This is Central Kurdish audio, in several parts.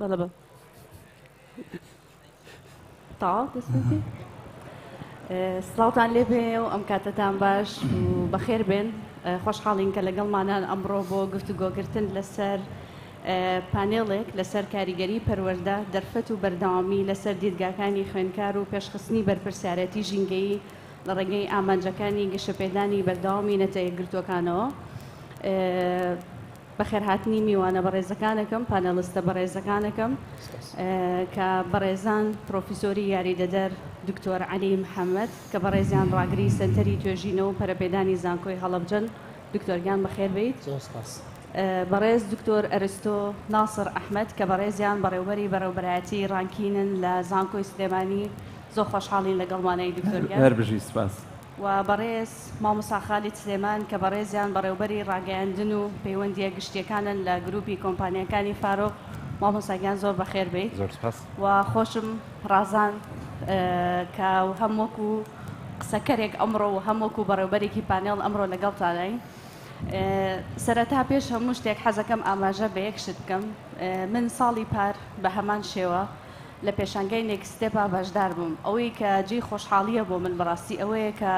بەڵە بە تاو دەستێ سڵاوتان لێبێ و ئەم کاتەتان باش و بەخێر بێن خۆشحاڵین کە لەگەڵمانان ئەمڕۆ بۆ گفتوگۆگرتن لەسەر پانێڵێک لەسەر کاریگەری پەروەەردە دەرفەت و بەردەوامی لەسەر دیدگاکانی خوێنکار و پێشخستنی بەرپرسیارەتی ژینگەی لە ڕێگەی ئامانجەکانی گەشەپێدانی بەردەوامی نەتەیە گرتوەکانەوە بەخێرهاتنی میوانە بەڕێزەکانەکەم، پانێڵستە بەڕێزەکانەکەم کە بەڕێزان پڕۆفیسۆری یاریدەدەر دکتۆر عەلی محەمەد کە بەڕێزیان ڕاگری سەنتەری توێژینەوە و پەرەپێدانی زانکۆی هەڵەبجەن، دکتۆر گیان بەخێر بێیت. زۆر سپاس. بەڕێز دکتۆر ئەرستۆ ناسڕ ئەحمەد کە بەڕێزیان بەڕێوبەری بەڕێوبەرایەتی ڕانکینن لە زانکۆی سلێمانی، زۆر خۆشحاڵین لەگەڵمانە ی دکتۆر گیان. هەر بژی، سپاس. و بەڕێز مامۆستا خالید سلێمان کە بەڕێزیان بەڕێوبەری ڕاگەیاندن و پەیوەندیە گشتیەکانن لە گروپی کۆمپانیاکانی فاروق مامۆستا گیان زۆر بەخێر بێی زۆر سپاس و خۆشم ڕازان کە هەم وەکو قسەکەرێک ئەمڕۆ و هەم وەکو بەڕێوبەرێکی پانێڵ ئەمڕۆ لەگەڵتانین سەرەتا پێش هەموو شتێک حەزەکەم ئاماژە بە یەک شت بکەم من ساڵی پار بە هەمان شێوە لە پێشانگای نێکستێپا بەشدار بووم ئەوەی کە جێی خۆشحاڵییە بۆ من بەڕاستی ئەوەیە کە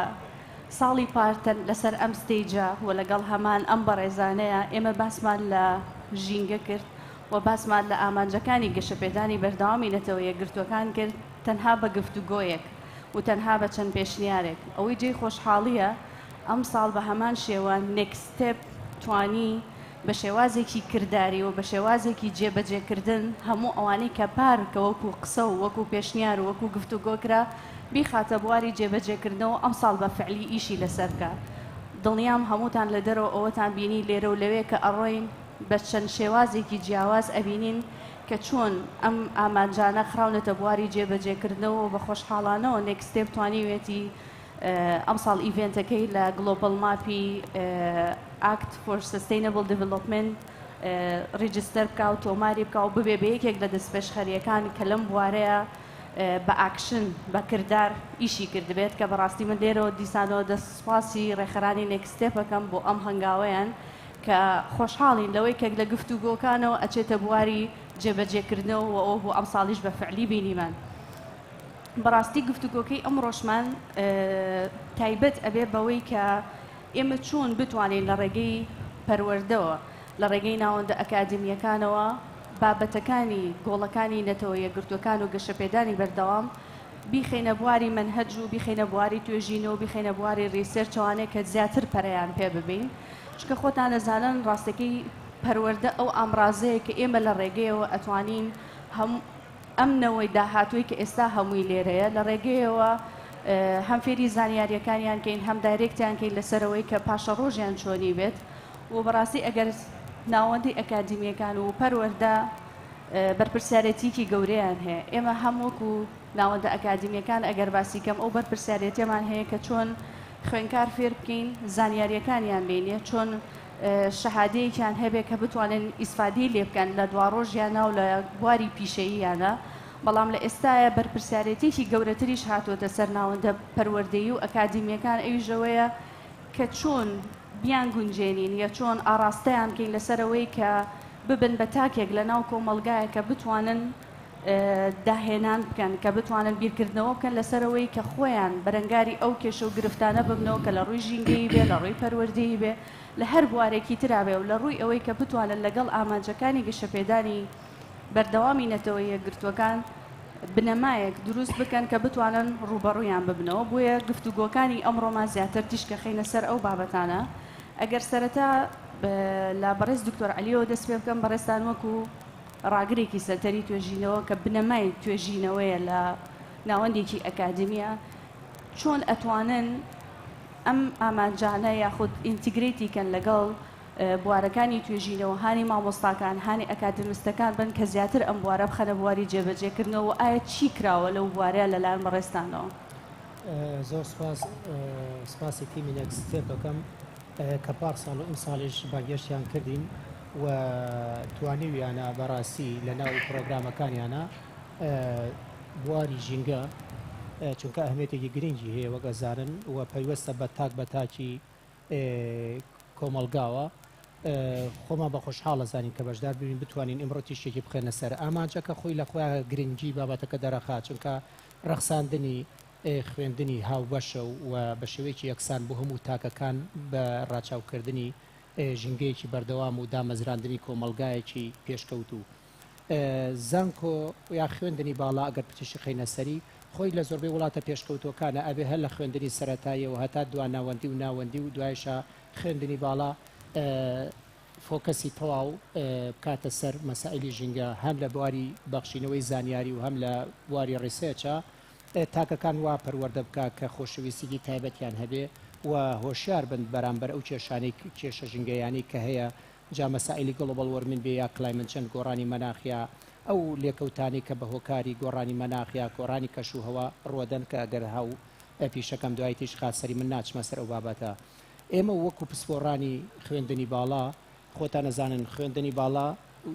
ساڵی پارتن لەسەر ئەم ستەیجە و لەگەڵ هەمان ئەم بەڕێزانەیە ئێمە باسمان لە ژینگە کرد و باسمان لە ئامانجەکانی گەشەپێدانی بەردەوامی نەتەوە یەکگرتووەکان کرد تەنها بە گفتوگۆیەک و تەنها بە چەند پێشنیارێک ئەوەی جێی خۆشحاڵییە ئەمساڵ بە هەمان شێوە نێکستێپ توانی بە شێوازێکی کرداری و بە شێوازێکی جێبەجێکردن هەموو ئەوانەی کە پار کە وەکو قسە و وەکو پێشنیار و وەکو گفتوگۆ کرا بیخاتە بواری جێبەجێکردنەوە ئەمساڵ بە فعلی ئیشی لەسەر بکا دڵنیام هەمووتان لە دەرەوە ئەوەتان بینی لێرە و لەوێ کە ئەڕۆین بە چەند شێوازێکی جیاواز ئەبینین کە چۆن ئەم ئامانجانە خراونەتە بواری جێبەجێکردنەوە و بە خۆشحاڵانەوە نێکست ستێپ توانیوێتی ئەمساڵ ئیڤێنتەکەی لە گڵۆبەڵ ماپی ئاکت فۆر سەستەینەبڵ دڤلۆپمێنت ڕیجستەر بکا و تۆماری بکا و ببێ بە یەکێک لە دەستپێشخەرییەکان کە لەم بوارەیە بە ئاکشن بە کردار ئیشی کردبێت کە بەڕاستی من لێرەوە دیسانەوە دەست سوپاسی ڕێکخەرانی نێکستێپ ئەکەم بۆ ئەم هەنگاوەیان کە خۆشحاڵین لەوەی کە لە گفتوگۆکانەوە ئەچێتە بواری جێبەجێکردنەوە و ئەوە بۆ ئەمساڵیش بە فعلی بینیمان. بەڕاستی گفتوگۆکەی ئەمڕۆشمان تایبەت ئەبێ بەوەی کە ئێمە چۆن بتوانین لە ڕێگەی پەروەردەوە لە ڕێگەی ناوەندە ئەکادیمییەکانەوە بابەتەکانی گۆڵەکانی نەتەوە یەکگرتووەکان و گەشەپێدانی بەردەوام بیخەینە بواری مەنهەج و بیخەینە بواری توێژینە و بیخەینە بواری ڕیسێرچەوانێک کە زیاتر پەرەیان پێ ببین چکە خۆتان دەزانن ڕاستەکەی پەروەردە ئەو ئامرازەیە کە ئێمە لە ڕێگەیەوە ئەتوانین هەم ئەم نەوەی داهاتووی کە ئێستا هەمووی لێرەیە لە ڕێگەیەوە هەم فێری زانیاریەکانیان کەین هەم دایرێکتیان کەین لەسەرەوەی کە پاشە ڕۆژیان چۆنی بێت و بەڕاستی ئەگەر ناوەندی ئەکادیمیەکان و پەروەەردە بەرپرسیارەتیکی گەورەیان هەیە ئێمە هەم وەکو ناوەندە ئەکادیمیەکان ئەگەر باسی کەم ئەو بەرپرسیارەتەمان هەیە کە چۆن خوێنکار فێر بکەین زانیاریەکانیان بینێ چۆن شەهادەیەکیان هەبێت کە بتوانن ئیسفادەی لێ بکەن لە دواڕۆژیانە و لە بواری پیشەییانە، بەڵام لە ئێستایە بەرپرسیارێتیەکی گەورەتریش هاتووەتە سەر ناوەندە پەروەردەیی و ئەکادیمییەکان ئەویش ئەوەیە کە چۆن بیانگونجێنین یا چۆن ئاڕاستەیان بکەین لەسەر ئەوەی کە ببن بە تاکێک لەناو کۆمەڵگایەک کە بتوانن داهێنان بکەن کە بتوانن بیرکردنەوە بکەن لەسەرەوەی کە خۆیان بەرەنگاری ئەو کێشە و گرفتانە ببنەوە کە لە ڕووی ژینگەی بێ لە ڕووی پەروەردەی بێ لە هەر بوارێکی ترابێ و لە ڕووی ئەوەی کە بتوانن لەگەڵ ئامانجەکانی گەشەپێدانی بەردەوامی نەتەوە یەکگرتووەکان بنەمایەک دروست بکەن کە بتوانن ڕوبەڕویان ببنەوە بۆیە گفتوگۆکانی ئەمڕۆمان زیاتر تیشکە خینە سەر ئەو بابەتانە ئەگەر سەرەتا لە بەڕێز دکتۆر علیەوە دەست پێ بکەم بەڕێستان وەکو ڕاگرێکی سەنتەری توێژینەوە کە بنەمای توێژینەوەیە لە ناوەندێکی ئەکادیمیە چۆن ئەتوانن ئەم ئامانجانە یاخود ئینتیگریتی کەن لەگەڵ بوارەکانی توێژینەوە هانی مامۆستاکان هانی ئەکادمیستەکان بن کە زیاتر ئەم بوارە بخەنە بواری جێبەجێکردنەوە و ئایا چی کراوە لەو بوارەیە لەلایەن بەڕێزتانەوە؟ زۆر سپاس سپاسی تیمی نێکس ستێپ ئەکەم کە پارساڵ و ئیمساڵیش بانگێشتیان کردین و توانیویانە بەڕاستی لە ناو پڕۆگرامەکانیانە بواری ژینگە چونکە ئەهمێتێکی گرنگی هەیە وەک ئەزانن و پەیوەستە بە تاک بە تاکی کۆمەڵگاوە خۆمان بە خۆشحاڵە زانین کە بەشدار ببین بتوانین ئمڕۆ تیشتێکی بخێنە سەر ئامانجەکە خۆی لە خۆیان گرنگی بابەتەکە دەرەخا چونکە ڕەخساندنی خوێندنی هاوبەشە و بە شێوەیەکی یەکسان بۆ هەموو تاکەکان بە ڕاچاوکردنی ژینگەیەکی بەردەوام و دامەزراندنی کۆمەڵگایەکی پێشکەوتوو. زانکۆ یا خوێندنی باڵا ئەگەر پچیشخەینە سەری، خۆی لە زۆربەی وڵاتە پێشکەوتووەکانە ئەبێ هەر لە خوێندنی سەرەتاییەوە هەتا دواناوەندی و ناوەندی و دوایشە خوێندنی باڵا فۆکەسی تەواو بکاتە سەر مەسائیلی ژینگە هەم لە بواری بەخشینەوەی زانیاری و هەم لە بواری ڕیسێرچە تاکەکان وا پەروەردە بکە کە خۆشەویستیی تایبەتیان هەبێ و هۆشیار بن بەرامبەر ئەو کێشانەی کێشە ژنگەیانەی کە هەیە جا مەسائیلی گڵۆبەڵ وەرمین بێ یا کلایمەت چەنج گۆڕانی مەناخ یا ئەو لێکەوتانەی کە بە هۆکاری گۆڕانی مەناخ یا گۆڕانی کەش و هەوا ڕوەدەن کە ئەگەر هاو پیشەکەم دوای تیژ خات سەری من ناچمە سەر ئەو بابەتە ئێمە وەکو پسپۆڕانی خوێندنی باڵا خۆتان ئەزانن خوێندنی باڵا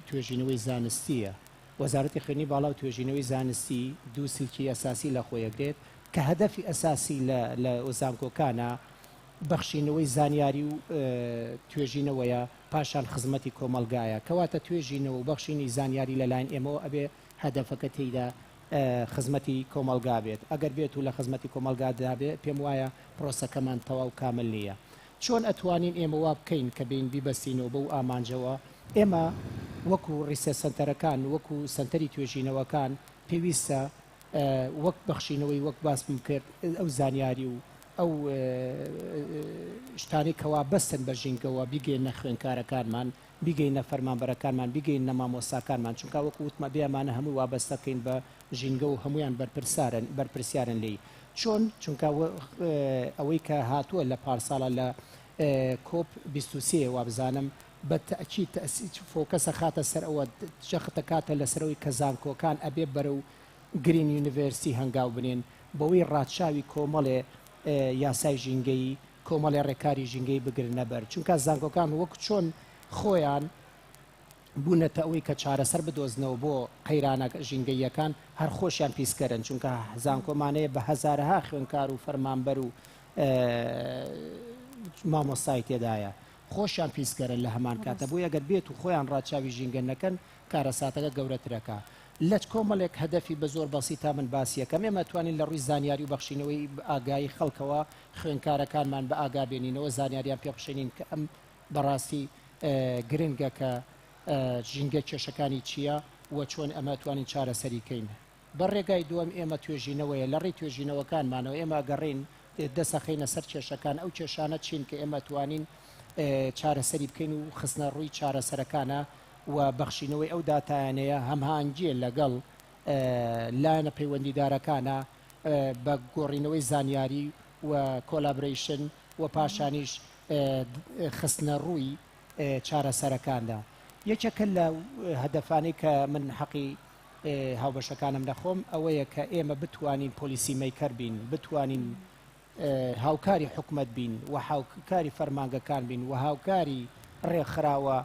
توێژینەوەی زانستییە وەزارەتی خوێندنی باڵا و توێژینەوەی زانستی دوو سلکی ئەساسی لە خۆیەگرێت کە هەدەفی ئەساسی لە لە زانکۆکانە بەخشینەوەی زانیاری و توێژینەوەیە پاشان خزمەتی کۆمەڵگایە کەواتە توێژینەوە و بەخشینی زانیاری لەلایەن ئێمەوە ئەبێ هەدەفەکە تێیدا خزمەتی کۆمەڵگا بێت ئەگەر بێت و لە خزمەتی کۆمەڵگادا بێ پێم وایە پرۆسەکەمان تەواو کامل نییە چۆن ئەتوانین ئێمە وا بکەین کە بێین بیبەستینەوە بەو ئامانجەوە؟ ئێمە وەکو ڕیسێرچ سەنتەرەکان، وەکو سەنتەری توێژینەوەکان پێویستە وەک بەخشینەوەی وەک باسم کرد ئەو زانیاری و ئەو شتانەی کەوا بەستن بە ژینگەوە بیگەیەننە خوێنکارەکانمان، بیگەینە فەرمانبەرەکانمان بیگەیننە مامۆستاکانمان چونکا وەکو وتمە بێ ئەمانە هەمووی وابەستەکەین بە ژینگە و هەموویان بەرپرسارن بەرپرسیارن لێی چۆن چونکا ئەوەی کە هاتووە لە پارساڵە لە کۆپ بیست و سێ وابزانم بە تەکی تەسی فۆکەسە خاتە سەر ئەوە جەختە کاتە لەسەرەوەی کە زانکۆکان ئەبێ بەرە و گرین یونیڤرسیتی هەنگاو بنێن بەوەی ڕادچاوی کۆمەڵێ یاسای ژینگەیی کۆمەڵی ڕێکاری ژینگەی بگرنە بەر، چونکا زانکۆکان وەک چۆن خۆیان بوونەتە ئەوەی کە چارەسەر بدۆزنەوە بۆ قەیرانە ژینگەییەکان، هەر خۆشیان پیسکەرن، چونکا زانکۆمان هەیە بە هەزارەها خوێندکار و فەرمانبەر و مامۆستای تێدایە، خۆشیان پیسکەرن لە هەمان کاتدا، بۆیە گەر بێتوو خۆیان ڕاچاوی ژینگە نەکەن کارەساتەکە گەورەترەکا لەچ کۆمەڵێک هەدەفی بە زۆر بەسیتا من باسیەکەم، ئێمە ئەتوانین لە ڕووی زانیاری و بەخشینەوەی ئاگایی خەڵکەوە خوێنکارەکانمان بەئاگا بێنینەوە زانیاریان پێ بخشێنین کە ئەم بەڕاستی گرنگە کە ژینگە کێشەکانی چییە و چۆن ئەمە توانین چارەسەری کەین بە ڕێگای دووەم ئێمە توێژینەوەیە لە ڕێی توێژینەوەکانمانەوە ئێمە ئەگەڕین دەسەخینە سەر کێشەکان ئەو کێشانە چین کە ئێمە توانین چارەسەری بکەین و خستنە ڕووی چارەسەرەکانە و بەخشینەوەی ئەو داتایانەیە هەمهانگیە لەگەڵ لایەنە پەیوەندیدارەکانە بە گۆڕینەوەی زانیاری و کۆلابرەیشن و پاشانیش خستنەڕووی چارەسەرەکاندا یەکێکە لە هەدەفانەی کە من حەقی هاوبەشەکانم دەخۆم ئەوەیە کە ئێمە بتوانین پۆلیسی مەیکەر بین بتوانین هاوکاری حکومت بین و هاوکاری فەرمانگەکان بین و هاوکاری ڕێکخراوە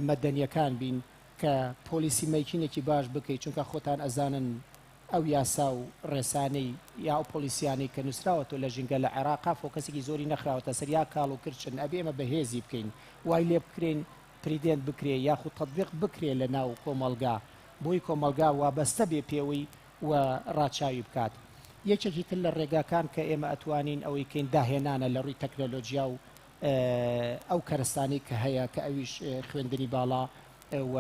مەدەنیەکان بین کە پۆلیسی مەیکینێکی باش بکەیت چونکە خۆتان ئەزانن ئەو یاسا و ڕێسانەی یا ئەو پۆڵیسیانەی کە نوسراوەتۆ لە ژینگە لە عێڕاقا فۆکەسێکی زۆری نەخراوەتە سەر یا کاڵ و کرچن ئەبێ ئێمە بە هێزی بکەین وای لێ بکرێین تریدێنت بکرێ یاخود تەتبیق بکرێ لە ناو کۆمەڵگا بۆی کۆمەڵگا وابەستە بێ پێوەی و ڕاچاوی بکات یەکێکی تر لە ڕێگاکان کە ئێمە ئەتوانین ئەوەی کەین داهێنانە لە ڕووی تەکنەلۆجیا و ئەو کەرەستانەی کە هەیە کە ئەویش خوێندنی باڵا و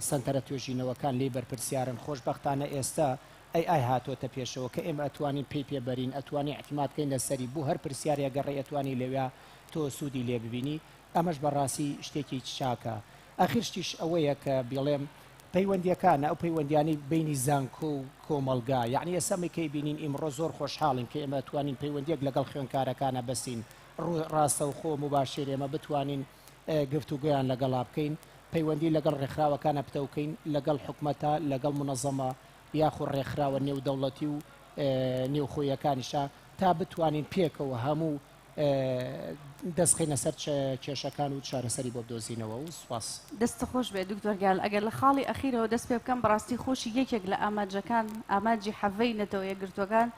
سەنتەرە توێژینەوەکان لێی بەرپرسیارن خۆشبەختانە ئێستە ئەی ئای هاتۆتە پێشەوە کە ئێمە ئەتوانین پێی پێبەرین ئەتوانی اعتماد کەین لەسەری بۆ هەر پرسیارێک گەڕێ ئەتوانی لەوێ تۆ سوودی لێ ببینی ئەمەش بەڕاستی شتێکی چاکە ئاخر شتیش ئەوەیە کە بیڵێم پەیوەندیەکانە ئەو پەیوەندیانی بینی زانکۆ و کۆمەلگا یعنی ئێسەمەی کەی بینین ئیمڕۆ زۆر خۆشحاڵین کە ئێمە توانین پەیوەندیەک لەگەڵ خوێنکارەکانە بەسین ڕوو ڕاستەوخۆ موباشیر ئێمە بتوانین گفتوگۆیان لەگەڵا بکەین، پەیوەندی لەگەڵ ڕێکخراوەکانە پتەو بکەین، لەگەڵ حکومەتە، لەگەڵ مونەزەمە یاخو ڕێکخراوە نێودەوڵەتی و نێوخۆییەکانیشا تا بتوانین پێکەوە هەموو دەستخەینە سەر کێشەکان و چارەسەری بۆ بدۆزینەوە و سپاس. دەستت خۆش بێت دکتۆر گیان، ئەگەر لە خاڵی ئەخیرەوە دەست پێ بکەم بەڕاستی خۆشی یەکێک لە ئامانجەکان ئامانجی حەڤەی نەتەوە یەکگرتووەکان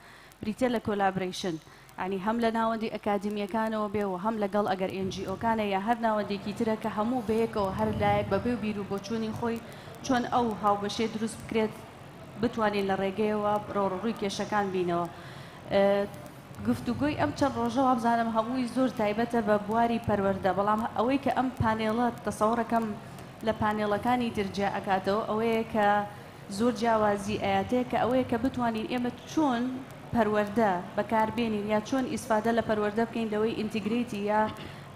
بریتیە لە کۆلابرەیشن یانی هەم لە ناوەندی ئەکادیمیەکانەوە بێ و هەم لە گەڵ ئەگەر ئێن جی ئۆکانە یا هەر ناوەندێکی ترە کە هەموو بەیەکەوە هەر لایەک بە بێ و بیرو بۆچوونی خۆی چۆن ئەو هاوبەشیە دروست بکرێت بتوانین لە ڕێگەیەوە ڕۆڕووی کێشەکان بینەوە گفتوگۆی ئەم چەند ڕۆژە وابزانم هەمووی زۆر تایبەتە بە بواری پەروەەردە بەڵام ئەوەی کە ئەم پانێڵە تەسەوڕەکەم لە پانێڵەکانی ترجیا ئەکاتەوە ئەوەیە کە زۆر جیاوازی ئەیاتێ کە ئەوەیە کە بتوانین ئێمە چۆن پەروەردە بەکار بێنین یا چۆن ئیسفادە لە پەروەردە بکەین لەوەی ئینتیگرەیتی یا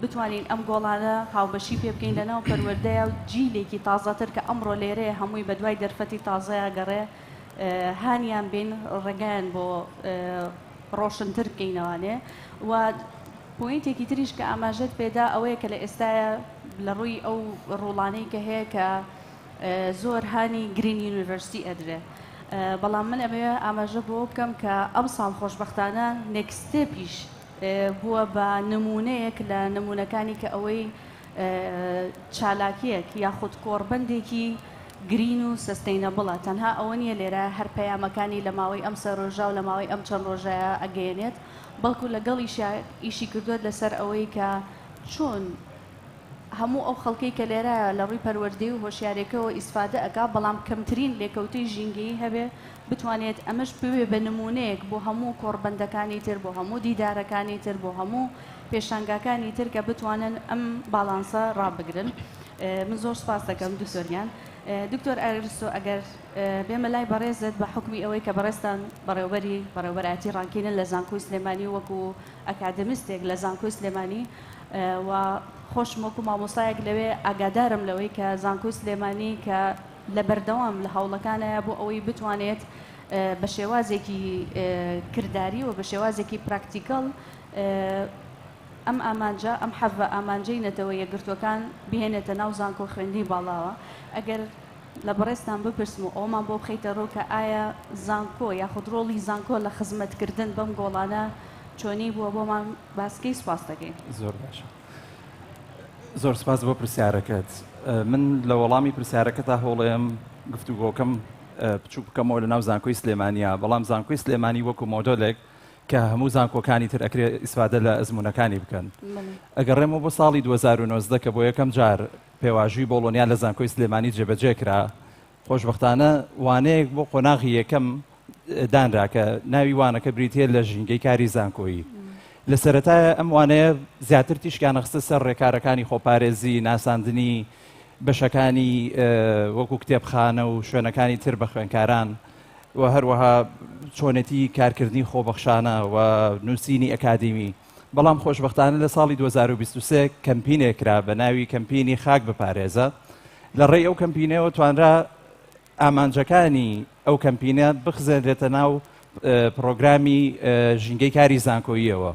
بتوانین ئەم گۆڵانە هاوبەشی پێ بکەین لە ناو پەروەردەیا و جیلێکی تازەتر کە ئەمڕۆ لێرەیە هەمووی بە دوای دەرفەتی تازەیا گەڕێ هانیان بین ڕێگایان بۆ ڕۆشنتر بکەینەوانێ و پوینتێکی تریش کە ئاماژەت پێدا ئەوەیە کە لە ئێستایا لە ڕووی ئەو ڕۆڵانەی کە هەیە کە زۆر هانی گرین یونیڤەرسیتی ئەدرێ بەڵام من ئەمەوێ ئاماژە بۆ بکەم کە ئەم ساڵ خۆشببختانە نێکستێپیش بووە بە نمونەیەک لە نمونونەکانی کە ئەوەی چالاکیەک یاخود کۆڕبندێکی گرین و سستینە بڵە تەنها ئەوە نیە لێرە هەر پەیامەکانی لە ماوەی ئەم سەر ڕۆژە و لە ماوەی ئەم چەند ڕۆژەیە ئەگەێنێت بەڵکو لەگەڵ ئیشی کردوێت لەسەر ئەوەی کە چۆن هەموو ئەو خەڵکەی کە لێرایە لە ڕووی پەروەردەی و هۆشیاریەکەوە ئیسفادە ئەکا بەڵام کەمترین لێکەوتەی ژینگەیی هەبێ بتوانێت ئەمەش ببێ بە نموونەیەک بۆ هەموو کۆڕبەندەکانی تر بۆ هەموو دیدارەکانی تر بۆ هەموو پێشانگاکانی تر کە بتوانن ئەم باڵانسە ڕابگرن من زۆر سپاس دەکەم دکتۆر گیان دکتۆر ئەرسۆ ئەگەر بێمە لای بەڕێزت بە حکمی ئەوەی کە بەڕێستان بەڕێوبەری بەڕێوبەراتی ڕانکینە لە زانکۆی سلێمانی وەکو ئەکادمیستێک لە زانکۆی سلێمانی و خۆشم وەکو مامۆستایەک لەوێ ئاگادارم لەوەی کە زانکۆی سلێمانی کە لە بەردەوام لە هەوڵەکانەیە بۆ ئەوەی بتوانێت بە شێوازێکی کردداری و بە شێوازێکی پراکتیکەڵ ئەم ئامانجە ئەم حەڤە ئامانجەی نەتەوە یەگرتوەکان بهێنێتە ناو زانکۆ خوێندی باڵاوە ئەگەر لە بەڕێزتان بپرسم و ئەوەمان بۆ بخەیتە ڕوو کە ئایا زانکۆ یاخود ڕۆڵی زانکۆ لە خزمەتکردن بەم گۆڵانە چۆنی بووە بۆمان باسکەی سپاس دەکەین. زۆر باشە. زۆر سپاس بۆ پرسیارەکەت. من لە وەڵامی پرسیارەکەتا هەوڵێم گفتوگۆکەم بچوک بکەمەوە لە ناو زانکۆی سلێمانیا بەڵام زانکۆی سلێمانی وەکو مۆدۆلێک کە هەموو زانکۆکانی تر ئەکرێ ئیسفادە لە ئەزمونونەکانی بکەن ئەگەڕێمەوە بۆ ساڵی 2009 کە بۆ یەکەم جار پێواژووی بۆڵۆنیا لە زانکۆی سلێمانی جێبەجێ کرا. خۆشبەختانە وانەیەک بۆ قۆناغی یەکەم دانرا کە ناوی وانەکە بریتییە لە ژینگەی کاری زانکۆیی. لە سەرەتای ئەم وانەیە زیاتر تیشکیان خستە سەر ڕێکارەکانی خۆپارێزی، ناساندنی بەشەکانی وەکو کتێبخانە و شوێنەکانی تر بە خوێندکاران و هەروەها چۆنێتی کارکردنی خۆبەخشانە و نووسینی ئەکادیمی. بەڵام خۆشبەختانە لە ساڵی دوو هەزار و بیست و سێ کەمپینێک کرا بە ناوی کەمپینی خاک بپارێزە لە ڕێی ئەو کەمپینەوە توانرا ئامانجەکانی ئەو کەمپینە بخزێنرێتە ناو پرۆگرامی ژینگەی کاری زانکۆییەوە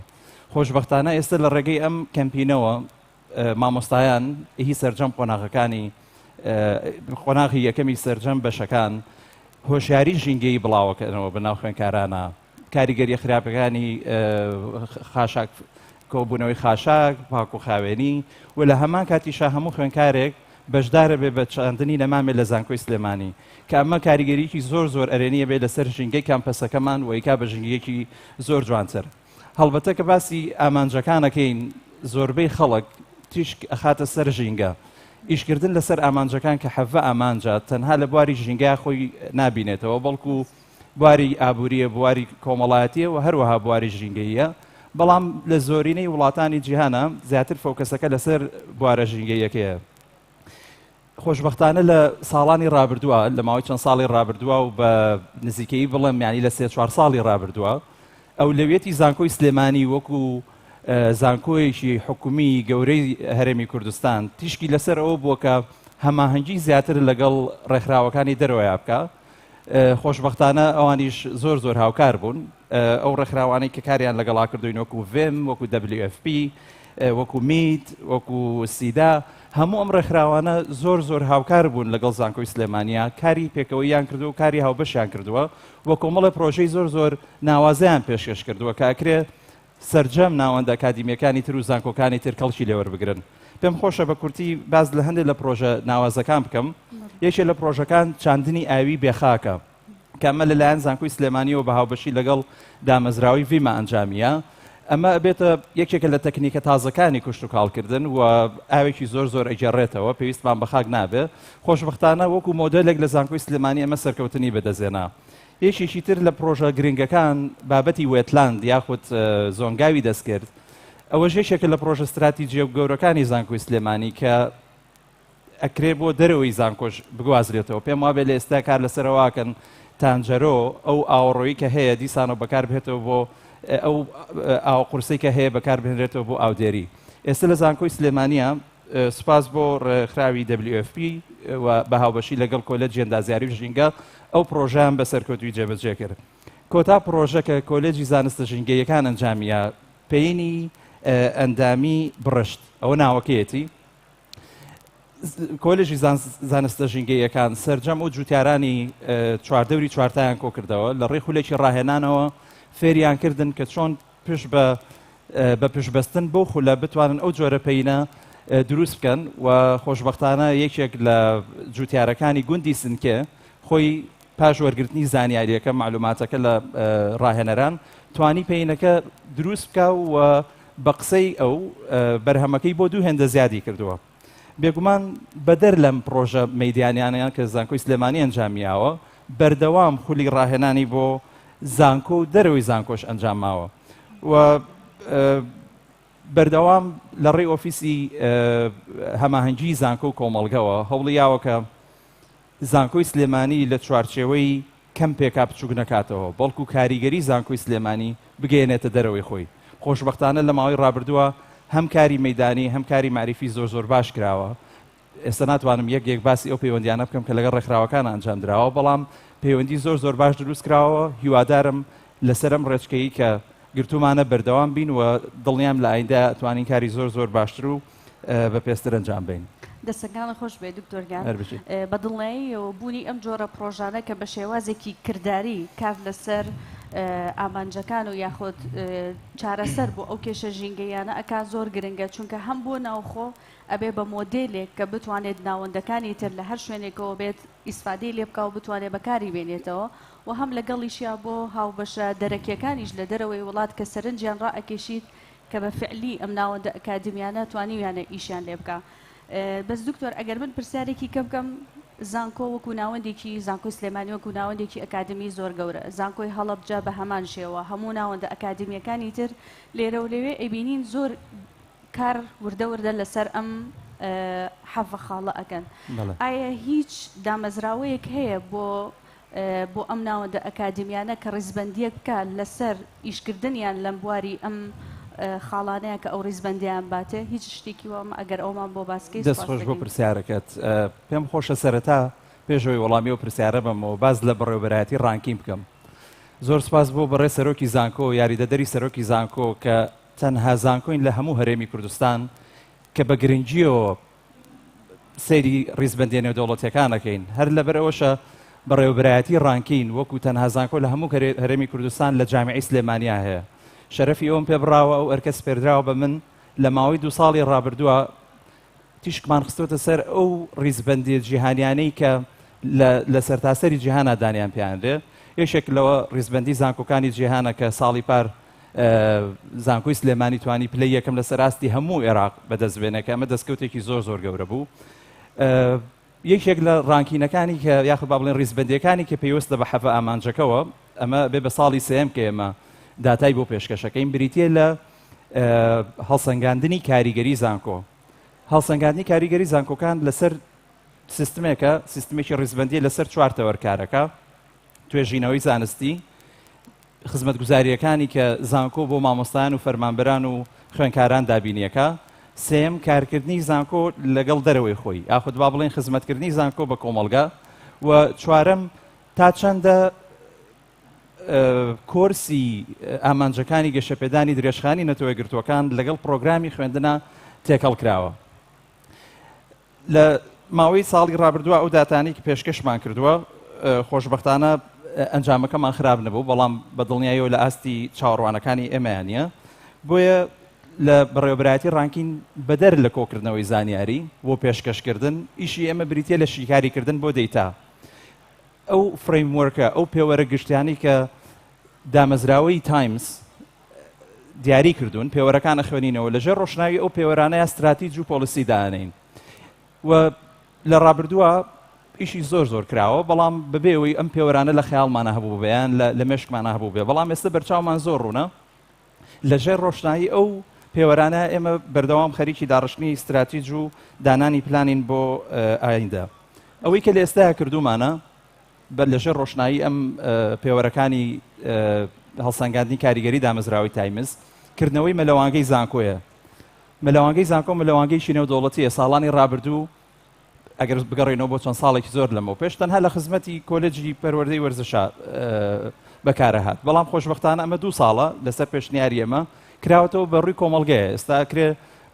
خۆشببختانە ئێستا لە ڕێگەی ئەم کەمپینەوە مامۆستایان هی سرجەم قۆناغەکانی قۆناغی یەکەمی سرجەم بەشەکان هۆشیاری ژینگەی بڵاوەکەنەوە بە ناو خوێنکارانە کاریگەرییە خراپەکانی خاشاک، کۆبوونەوەی خاشاک، پاکوخاوێنی و لە هەمان کاتیشا هەموو خوێندکارێک بەشدارە بێ بە چاندنی نەمامێ لە زانکۆی سلێمانی کە ئەمە کاریگەریکی زۆر زۆر ئەرێنیە بێ لەسەر ژینگەی کامپەسەکەمان و ئەیکا بە ژینگەیەکی زۆر جوانتر هەڵبەتە کە باسی ئامانجەکانەکەین زۆربەی خەڵک تیشک ئەخاتە سەر ژینگە ئیشکردن لەسەر ئامانجەکان کە حەڤە ئامانجە تەنها لە بواری ژینگە خۆی نابینێتەوە بەڵکو بواری ئابوورییە، بواری کۆمەڵایەتییە و هەروەها بواری ژینگەییە، بەڵام لە زۆرینەی وڵاتانی جیهانا زیاتر فۆکەسەکە لەسەر بوارە ژینگەییەکەیە. خۆشبەختانە لە ساڵانی ڕابردووە، لە ماوەی چەند ساڵی ڕابردووە و بە نزیکەیی بڵێم یانی لە سێ چوار ساڵی ڕابردووە، ئەولەویەتی زانکۆی سلێمانی وەکو زانکۆیەکی حکومی گەورەی هەرێمی کوردستان تیشکی لەسەر ئەوە بووە کە هەماهەنگی زیاتر لەگەڵ ڕێکخراوەکانی دەرەوەیا بکا، خۆشبەختانە ئەوانیش زۆر زۆر هاوکار بوون ئەو ڕێکخراوانەی کە کاریان لەگەڵا کردوین وەکو ڤێم وەکو WFP وەکو میت وەکو سیدا هەموو ئەم ڕێکخراوانە زۆر زۆر هاوکار بوون لەگەڵ زانکۆی سلێمانیا کاری پێکەوەیان کردو و کاری هاوبەشیان کردووە وە کۆمەڵە پرۆژەی زۆر زۆر ناوازەیان پێشکەش کردووە کاکرێ سەرجەم ناوەندە ئەکادیمیەکانی تر و زانکۆکانی تر کەڵکی لێ وەربگرن. پێم خۆشە بە کورتی باس لە هەندێک لە پرۆژە ناوازەکان بکەم. یەکێ لە پرۆژەکان چاندنی ئاوی بێ خاکە کە ئەمە لەلایەن زانکۆی سلێمانیەوە بە هاوبەشی لەگەڵ دامەزراوەی ڤیما ئەنجامیە. ئەمە ئەبێتە یەکێکە لە تەکنیکە تازەکانی کوشتوکاڵکردن و ئاوێکی زۆر زۆر ئەگێڕێتەوە، پێویستمان بە خاک نابێ. خۆشبەختانە وەکو مۆدێلێک لە زانکۆی سلێمانی ئەمە سەرکەوتنی بەدەستێنا. یەکێکی تر لە پڕۆژە گرنگەکان بابەتی وێتلاند یاخود زۆنگاوی دەستکرد، ئەوەش یەکێکە لە پڕۆژە ستراتیجییە و گەورەکانی زانکۆی سلێمانی کە ئەکرێ بۆ دەرەوەی زانکۆش بگوازرێتەوە، پێم وابێ لە ئێستا کار لەسەرەوە ئەکەن تانجەرۆ ئەو ئاوەڕۆی کە هەیە دیسانەوە بەکار بهێتەوە بۆ ئەو ئاوە قورسەی کە هەیە بەکار بهێنرێتەوە بۆ ئاودێری ئێستا لە زانکۆی سلێمانییە. سوپاس بۆ ڕێکخراوی WFP و بە هاوبەشی لەگەڵ کۆلێجی ئەندازیاری و ژینگە ئەو پڕۆژەیان بە سەرکەوتووی جێبەجێ کرد. کۆتا پڕۆژە کە کۆلێجی زانستە ژینگەییەکان ئەنجامیا پەینی ئەندامی بڕشت ئەوە ناوەکەیەتی کۆلێژی زانستە ژینگەیەکان سرجەم و جوتیارانی چواردەوری چوارتایان کۆکردەوە لە ڕێ خولێکی ڕاهێنانەوە فێریان کردن کە چۆن پشت بە بە پشت بەستن بەو خولە بتوانن ئەو جۆرە پەینە دروست بکەن و خۆشببختانە یەکێک لە جوتیارەکانی گوندی سنکێ خۆی پاش وەرگرتنی زانیاریەکە معلوماتەکە لە ڕاهێنەران توانی پێینەکە دروست بکە و بە قسەی ئەو بەرهەمەکەی بۆ دوو هێندە زیادی کردووە بێگومان بەدەر لەم پڕۆژە مەیدانیانەیان کە زانکۆی سلێمانی ئەنجامیاوە بەردەوام خولی ڕاهێنانی بۆ زانکۆ و دەرەوەی زانکۆش ئەنجام ماوە و بەردەوام لە ڕێی ئۆفیسی هەماهەنگی زانکۆ و کۆمەڵگەوە هەوڵی یاوەکە زانکۆی سلێمانی لە چوارچێوەی کەم پێکا بچوک نەکاتەوە بەڵکو کاریگەری زانکۆی سلێمانی بگەیەنێتە دەرەوەی خۆی خۆشبەختانە لەماوەی ڕابردوە هەم کاری مەیدانی هەم کاری مەعریفی زۆر زۆر باش کراوە ئێستا ناتوانم یەک یەک باسی ئەو پەیوەندیانە بکەم کە لەگەڵ ڕێکخراوەکان ئەنجام دراوە بەڵام پەیوەندی زۆر زۆر باش دروست کراوە هیوادارم لەسەرم ڕێچکەی کە گرتومانە بەردەوام بین و دڵنیام لە ئایندە توانین کاری زۆر زۆر باشتر و بە پێستر ئەنجام بین. دەستەکانە خۆش بێ دکتۆر گیان بە دڵنیاییەوە بوونی ئەم جۆرە پرۆژانە کە بە شێوازێکی کردداری کار لەسەر ئامانجەکان و یاخود چارەسەر بۆ ئەو کێشە ژینگەیانە ئەکا زۆر گرنگە چونکە هەم بۆ ناوخۆ ئەبێ بە مۆدلێک کە بتوانێت ناوەندەکانی تر لە هەر شوێنێکەوە بێت ئیسفادی لێبکە و بتوانێت بەکاری بێنێتەوە و هەم لەگەڵیشیا بۆ هاوبەشە دەرەکیەکانیش لە دەرەوەی وڵات کە سەرنجیان ڕائەکێشیت کە بە فعلی ئەم ناوەندە ئەکادمیانە توانیویانە ئیشیان لێ بکا بەس دکتۆر ئەگەر من پرسیارێکی کە بکەم زانکۆ وەکو ناوەندێکی زانکۆی سلێمانی وەکو ناوەندێکی ئەکادمی زۆر گەورە زانکۆی هەڵەبجە بە هەمان شێوە هەموو ناوەندە ئەکادمیەکانی تر لێرە و لەوێ ئەبینین زۆر کار وردە وردە لەسەر ئەم حەڤە خاڵە ئەکەن ئایا هیچ دامەزراوەیەک هەیە بۆ بۆ ئەم ناوەندە ئەکادیمیانە کە ڕیزبەندییەک بکا لەسەر ئیشکردنیان لەم بواری ئەم خاڵانەیە کە ئەو ڕیزبەندیان باتێ هیچ شتێکی وام ئەگەر ئەومان بۆ باسکەی دەست خۆش بۆ پرسیارەکەت پێم خۆشە سەرەتا پێشەوەی وەڵامی و پرسیارە بەمەوە باز لە بەڕێوبەرایەتی ڕانکین بکەم زۆر سپاس بۆ بەڕێ سەرۆکی زانکۆ و یاریدەدەری سەرۆکی زانکۆ کە تەنها زانکۆین لە هەموو هەرێمی کوردستان کە بە گرنگیەوە سەیری ڕیزبەندیە نێودەوڵەتیەکان ئەکەین هەر لەبەرئەوەشە بەڕێوەبرایەتی ڕانکین وەکو تەنها زانکۆ لە هەموو هەرێمی کوردستان لە جامیعەی سلێمانیا هەیە شەرەفی ئەوم پێ بڕاوە ئەو ئەرکە سپێردراوە بە من لە ماوەی دوو ساڵی ڕابردووە تیشکمان خستۆتە سەر ئەو ڕیزبەندی جیهانیانەی کە لە سەرتاسەری جیهانا دانیان پێیانرێ یەکێک لەوە ڕیزبەندی زانکۆکانی جیهانە کە ساڵی پار زانکۆی سلێمانی توانی پلەی یەکەم لەسەر ئاستی هەموو عێراق بەدەست بێنێ کە ئەمە دەستکەوتێکی زۆر زۆر گەورە بوو. یەکێک لە ڕانکینەکانی کە یاخود با بڵێن ڕیزبەندیەکانی کە پێیوەستە بە حەڤە ئامانجەکەەوە ئەمە بێ بە ساڵی سێم کە ئێمە داتای بۆ پێشکەشەکەین بریتە لە هەڵسەنگاندنی کاریگەری زانکۆ هەڵسەنگاندنی کاریگەری زانکۆکان لەسەر سیستمێکە سیستمێکی ڕیزبندی لەسەر چوار تەوەرکارەکە توێژینەوەی زانستی خزمەتگوزارییەکانی کە زانکۆ بۆ مامۆستایان و فەرمانبەران و خوێندکاران دابینی ئەکا. سێیەم، کارکردنی زانکۆ لەگەڵ دەرەوەی خۆی، یاخود با بڵێین خزمەتکردنی زانکۆ بە کۆمەڵگا. و چوارەم، تا چەندە کۆرسی ئامانجەکانی گەشەپێدانی درێژخانی نەتەوەیەکگرتووەکان لەگەڵ پرۆگرامی خوێندنا تێکەڵ کراوە. لە ماوەی ساڵی ڕابردووە ئەو داتانەی کە پێشکەشمان کردووە خۆشببختانە ئەنجامەکەمان خراپ نەبوو بەڵام بە دڵنیایەوە لە ئاستی چاوەڕوانەکانی ئێمەیان نیە بۆیە لە بەڕێوەبراتی ڕانکین بەدەر لە کۆکردنەوەی زانیاری بۆ پێشکەشکردن ئیشی ئێمە بریتە لە شیکاریکردن بۆ دەیتا ئەو فرەیموەرکە ئەو پێوەرە گشتیانی کە دامەزراوەی تایمز دیاری کردوون پێوەرەکان ئەخوێنینەوە لەژێر ڕۆشناوی ئەو پێوەرانەیە ستراتیج و پۆلیسی دانین و لە ڕابردووە ئیشی زۆر زۆر کراوە بەڵام بەبێەوەی ئەم پێوەرانە لە خەیاڵمانە هەبوو بەیان لە مێشکمانە هەبوو بێ بەڵام ئێستا بەرچاومان زۆر ڕوونە لەژێر ڕۆشنایی ئەو پێوەرانە ئێمە بەردەوام خەریکی داڕشتنی استراتیج و دانانی پلانین بۆ ئایندە ئەوەی کە لە ئێستا کردومانە بەر لەژێر ڕۆشنایی ئەم پێوەرەکانی هەڵسەنگاندنی کاریگەری دامەزراوەی تایمز، کردنەوەی مەلەوانگەی زانکۆیە. مەلەوانگەی زانکۆ مەلەوانگەیەکی نێودەوڵەتییە، ساڵانی ڕابردوو ئەگەر بگەڕێینەوە بۆ چەند ساڵێکی زۆر لەمەو پێش تەنها لە خزمەتی کۆلێجی پەروەردەی وەرزشا بەکارەهات بەڵام خۆشبختانە ئەمە دوو ساڵە لەسەر پێشنیاری ئەمە کراوەتەوە بە ڕووی کۆمەڵگەیە ئێستا ئەکرێ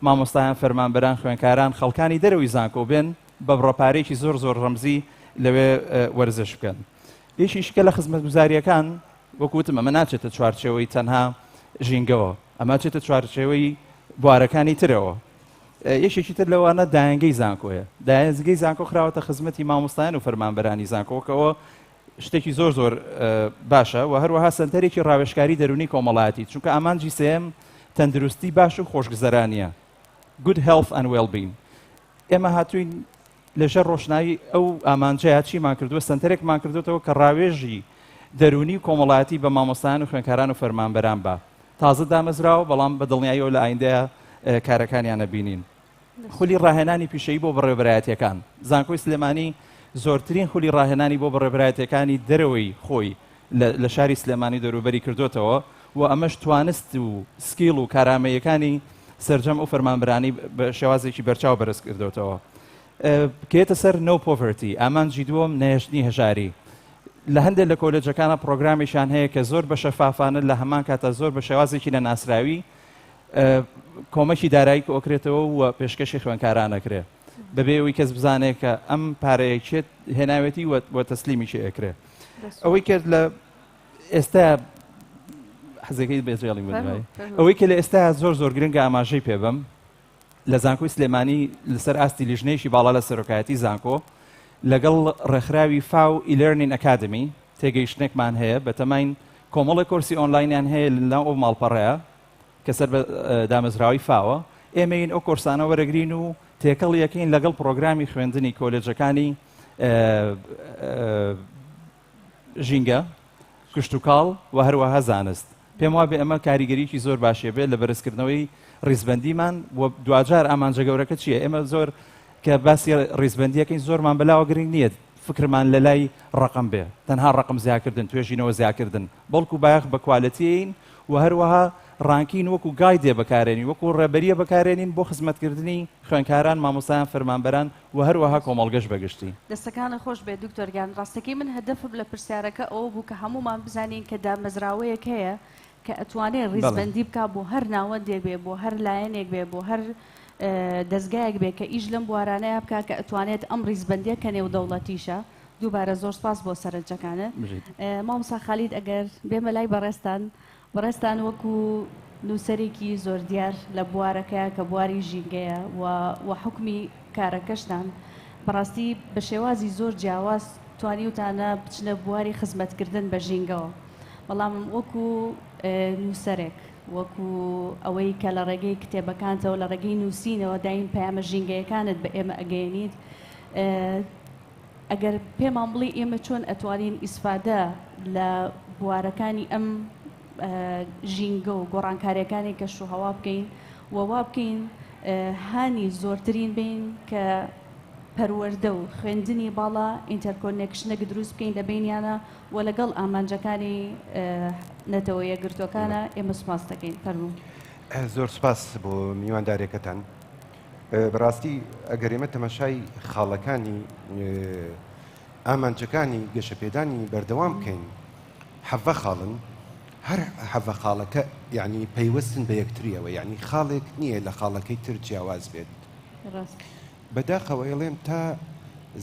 مامۆستایان فەرمانبەران خوێنکاران خەڵکانی دەرەوەی زانکۆ بێن بە بڕە پارەیەکی زۆر زۆر ڕەمزی لەوێ وەرزش بکەن یەکیشکە لە خزمەتگوزاریەکان وەک وتم ئەمە ناچێتە چوارچێوەی تەنها ژینگەوە ئەمە چێتە چوارچێوەی بوارەکانی ترەوە یەکێکی تر لەوانە دایەنگەی زانکۆیە دایەنزگەی زانکۆ خراوەتە خزمەتی مامۆستایان و فەرمانبەرانی زانکۆکەوە شتێکی زۆر زۆر باشە و هەروەها سنتەرێکی ڕاوێشکاری دەرونی کۆمەڵایەتی چونکە ئامانجی سێم تەندروستی باش و خۆشگزەرانە good health and well-being ئێمە هاتووین لەژێر ڕۆشنایی ئەو ئامانجەیە چیمان کردووە سنتەرێکمان کردوێتەوە کە ڕاوێژی دەرونی و کۆمەڵایەتی بە مامۆستایان و خوێنکاران و فەرمانبەران بە تازە دامەزراوە بەڵام بە دڵنیاییەوە لە ئایندەیە کارەکانیانە بینین خولی ڕاهێنانی پیشەیی بۆ بەڕێبەرایەتەکان زانکۆی سلێمانی زۆرترین خولی ڕاهێنانی بۆ بەڕێبەرایەتەکانی دەرەوەی خۆی لە شاری سلێمانی دەوروبەری کردۆتەوە و ئەمەش توانست و سکیڵ و کارامەییەکانی سەرجەم ئەو فەرمانبرانی بە شێوازێکی بەرچاو بەرز کردۆتەوە کێتە سەر نۆ پۆڤرتی ئامانجی دووەم نەهێشتنی هەژاری لە هەندێک لە کۆلێجەکانە پرۆگرامیشان هەیە کە زۆر بە شەفافانە لە هەمان کاتە زۆر بە شێوازێکی لە ناسراوی کۆمەکی دارایی کۆکرێتەوە و پێشکەشی خوێنکارانەکرێت بەبێ ئەوی کەس بزانێت کە ئەم پارەیە چێت هێناوێتی وە تەسلیمی چێ ئەکرێ ئەوەی کرد لە ئێستا حەزەکەی بێزێڵی بەدوای ئەوەی کە لە ئێستا زۆر زۆر گرنگە ئاماژەی پێ بم لە زانکۆی سلێمانی لەسەر ئاستی لیژنەیەکی باڵا لە سەرۆکایەتی زانکۆ لەگەڵ ڕێکخراوی فاو ئیلێرنین ئەکادمی تێگەیشتێکمان هەیە بەتەماین کۆمەڵی کۆرسی ئۆنلاینیان هەیە لە ئەو ماڵپەڕەیە کە سەر بە دامەزراوەی فاوە، ئێمەین ئەو کۆرسانە وەرەگرین و تێکەڵی یەکەین لەگەڵ پڕۆگرامی خوێندنی کۆلێجەکانی ژینگە، کشتوکاڵ و هەروەها زانست. پێم وابێ ئەمە کاریگەریکی زۆر باشێ بێت لە بەرزکردنەوەی ڕیزبەندیمان و دواجار ئامانجە گەورەکە چییە؟ ئێمە زۆر کە باسی ڕیزبەندیەکەین زۆرمان بەلاوە گرنگ نییە فکرمان لە لای ڕقم بێ تەنها ڕقم زیاکردن توێژینەوە زیاکردن بەڵکو بایەخ بە کوالێتیین و هەروەها ڕانکین وەکو گایدێ بەکارێنین، وەکو ڕێبەرییە بەکارێنین بۆ خزمەتکردنی خوێنکاران، مامۆستایان، فەرمانبەران و هەروەها کۆمەڵگەش بە گشتی. دەستەکانت خۆش بێت دکتۆر گیان، ڕاستەکەی من هەدەفم لە پرسیارەکە ئەوە بوو کە هەموومان بزانین کە دامەزراوەیەک هەیە کە ئەتوانێت ڕیزبەندی بکات بۆ هەر ناوەندێک بێت، بۆ هەر لایەنێک بێت، بۆ هەر دەزگایەک بێت کە ئیش لەم بوارانەیا بکات کە ئەتوانێت ئەم ڕیزبەندییە کە نێودەوڵەتیشە دووبارە زۆر سپاس بۆ سەرنجەکانت بژیت. مامۆستا خالید ئەگەر بێمە لای بەڕێزتان بەڕێزتان وەکو نووسەرێکی زۆر دیار لە بوارەکە کە بواری ژینگەیە و و حکمی کارەکەشتان بەڕاستی بە شێوازی زۆر جیاواز توانیوتانە بچنە بواری خزمەتکردن بە ژینگەوە بەڵام وەکو اه، نووسەرێک وەکو ئەوەی کە لە ڕێگەی کتێبەکانتەوە لە ڕێگەی نووسینەوە دایم پەیامە ژینگەیەکانت بە ئێمە ئەگەیەنیت اه، ئەگەر پێمان بڵێ ئێمە چۆن ئەتوانین ئیسفادە لە بوارەکانی ئەم ژینگە و گۆڕانکاریەکانی کەش و هەوا بکەین وەوا بکەین هانی زۆرترین بین کە پەروەەردە و خوێندنی باڵا ئینتەرکۆنێکشنەک دروست بکەین لە بینیانە و لەگەڵ ئامانجەکانی نەتەوە یەگرتوەکانە ئێمە سپاس دەکەین فەرمو زۆر سپاس بۆ میواندارێکەتان بەڕاستی ئەگەر ئێمە تەماشای خاڵەکانی ئامانجەکانی گەشەپێدانی بەردەوام بکەین حەڤە خاڵن هەر حەڤە خاڵەکە یعنی پەیوەستن بە یەکتریەوە یعنی خاڵێک نییە لە خاڵەکەی تر جیاواز بێت بەداخەوە ئێڵێم تا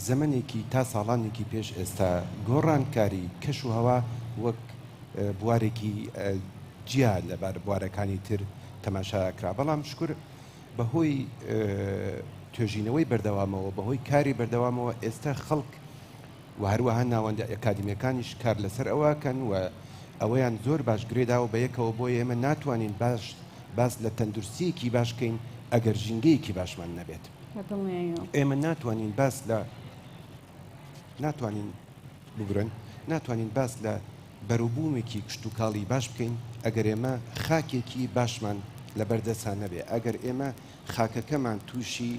زەمنێکی تا ساڵانێکی پێش ئێستا گۆڕانکاری کەش و هەوا وەک بوارێکی جیا لەبار بوارەکانی تر تەماشاکرا بەڵام شکر بەهۆی توێژینەوەی بەردەوامەوە، بەهۆی کاری بەردەوامەوە ئێستا خەڵک و هەروەها ناوەندە ئەکادیمیەکانیش کار لەسەر ئەوەکەن و ئەوەیان زۆر باش گرێداوە بەیەکەوە، بۆیە ئێمە ناتوانین باش باس لە تەندروستییەکی باش کەین ئەگەر ژینگەیەکی باشمان نەبێت. ئێمە ناتوانین باس لە. ناتوانین ببورن، ناتوانین باس لە بەروبوومێکی کشتوکاڵی باش بکەین ئەگەر ئێمە خاکێکی باشمان لەبەردەسا نەبێ، ئەگەر ئێمە خاکەکەمان تووشی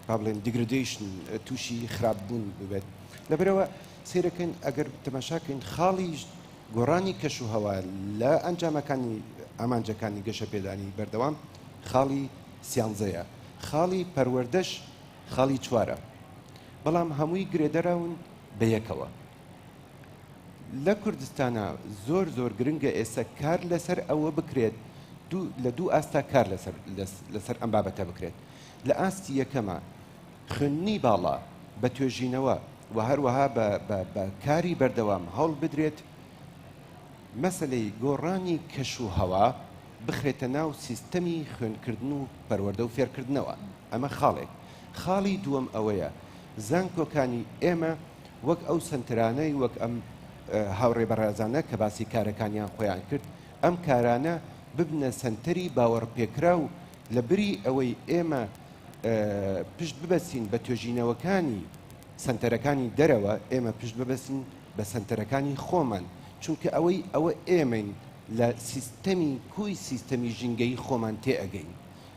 با بڵێن دیگرەدەیشن تووشی خراپبوون ببێت. لەبەرەوە سەیرەکەن ئەگەر تەماشاکەین خاڵی گۆڕانی کەش و هەوا لە ئەنجامەکانی ئامانجەکانی گەشەپێدانی بەردەوام خاڵی سیانزەیە. خاڵی پەروەردەش خاڵی چوارەم، بەڵام هەمووی گرێدراون بە یەکەوە. لە کوردستانا زۆر زۆر گرنگە ئێستا کار لەسەر ئەوە بکرێت دوو لە دوو ئاستا کار لەسەر لەسەر ئەم بابەتە بکرێت لە ئاستی یەکەمە خوێندنی باڵا بە توێژینەوە و هەروەها بە کاری بەردەوام هەوڵ بدرێت مەسلەی گۆڕانی کەش و هەوا بخرێتە ناو سیستەمی خوێندکردن و پەروەردە و فێرکردنەوە. ئەمە خاڵێک. خاڵی دووەم ئەوەیە زانکۆکانی ئێمە وەک ئەو سەنتەرانەی وەک ئەم هاوڕێ بەڕێزانە کە باسی کارەکانیان خۆیان کرد، ئەم کارانە ببنە سەنتەری باوەڕپێکراو لە بری ئەوەی ئێمە پشت ببەستین بە توێژینەوەکانی سەنتەرەکانی دەرەوە، ئێمە پشت ببەستین بە سەنتەرەکانی خۆمان، چونکە ئەوەی ئەوە ئێمەین لە سیستەمی کوی سیستەمی ژینگەیی خۆمان تێئەگەین.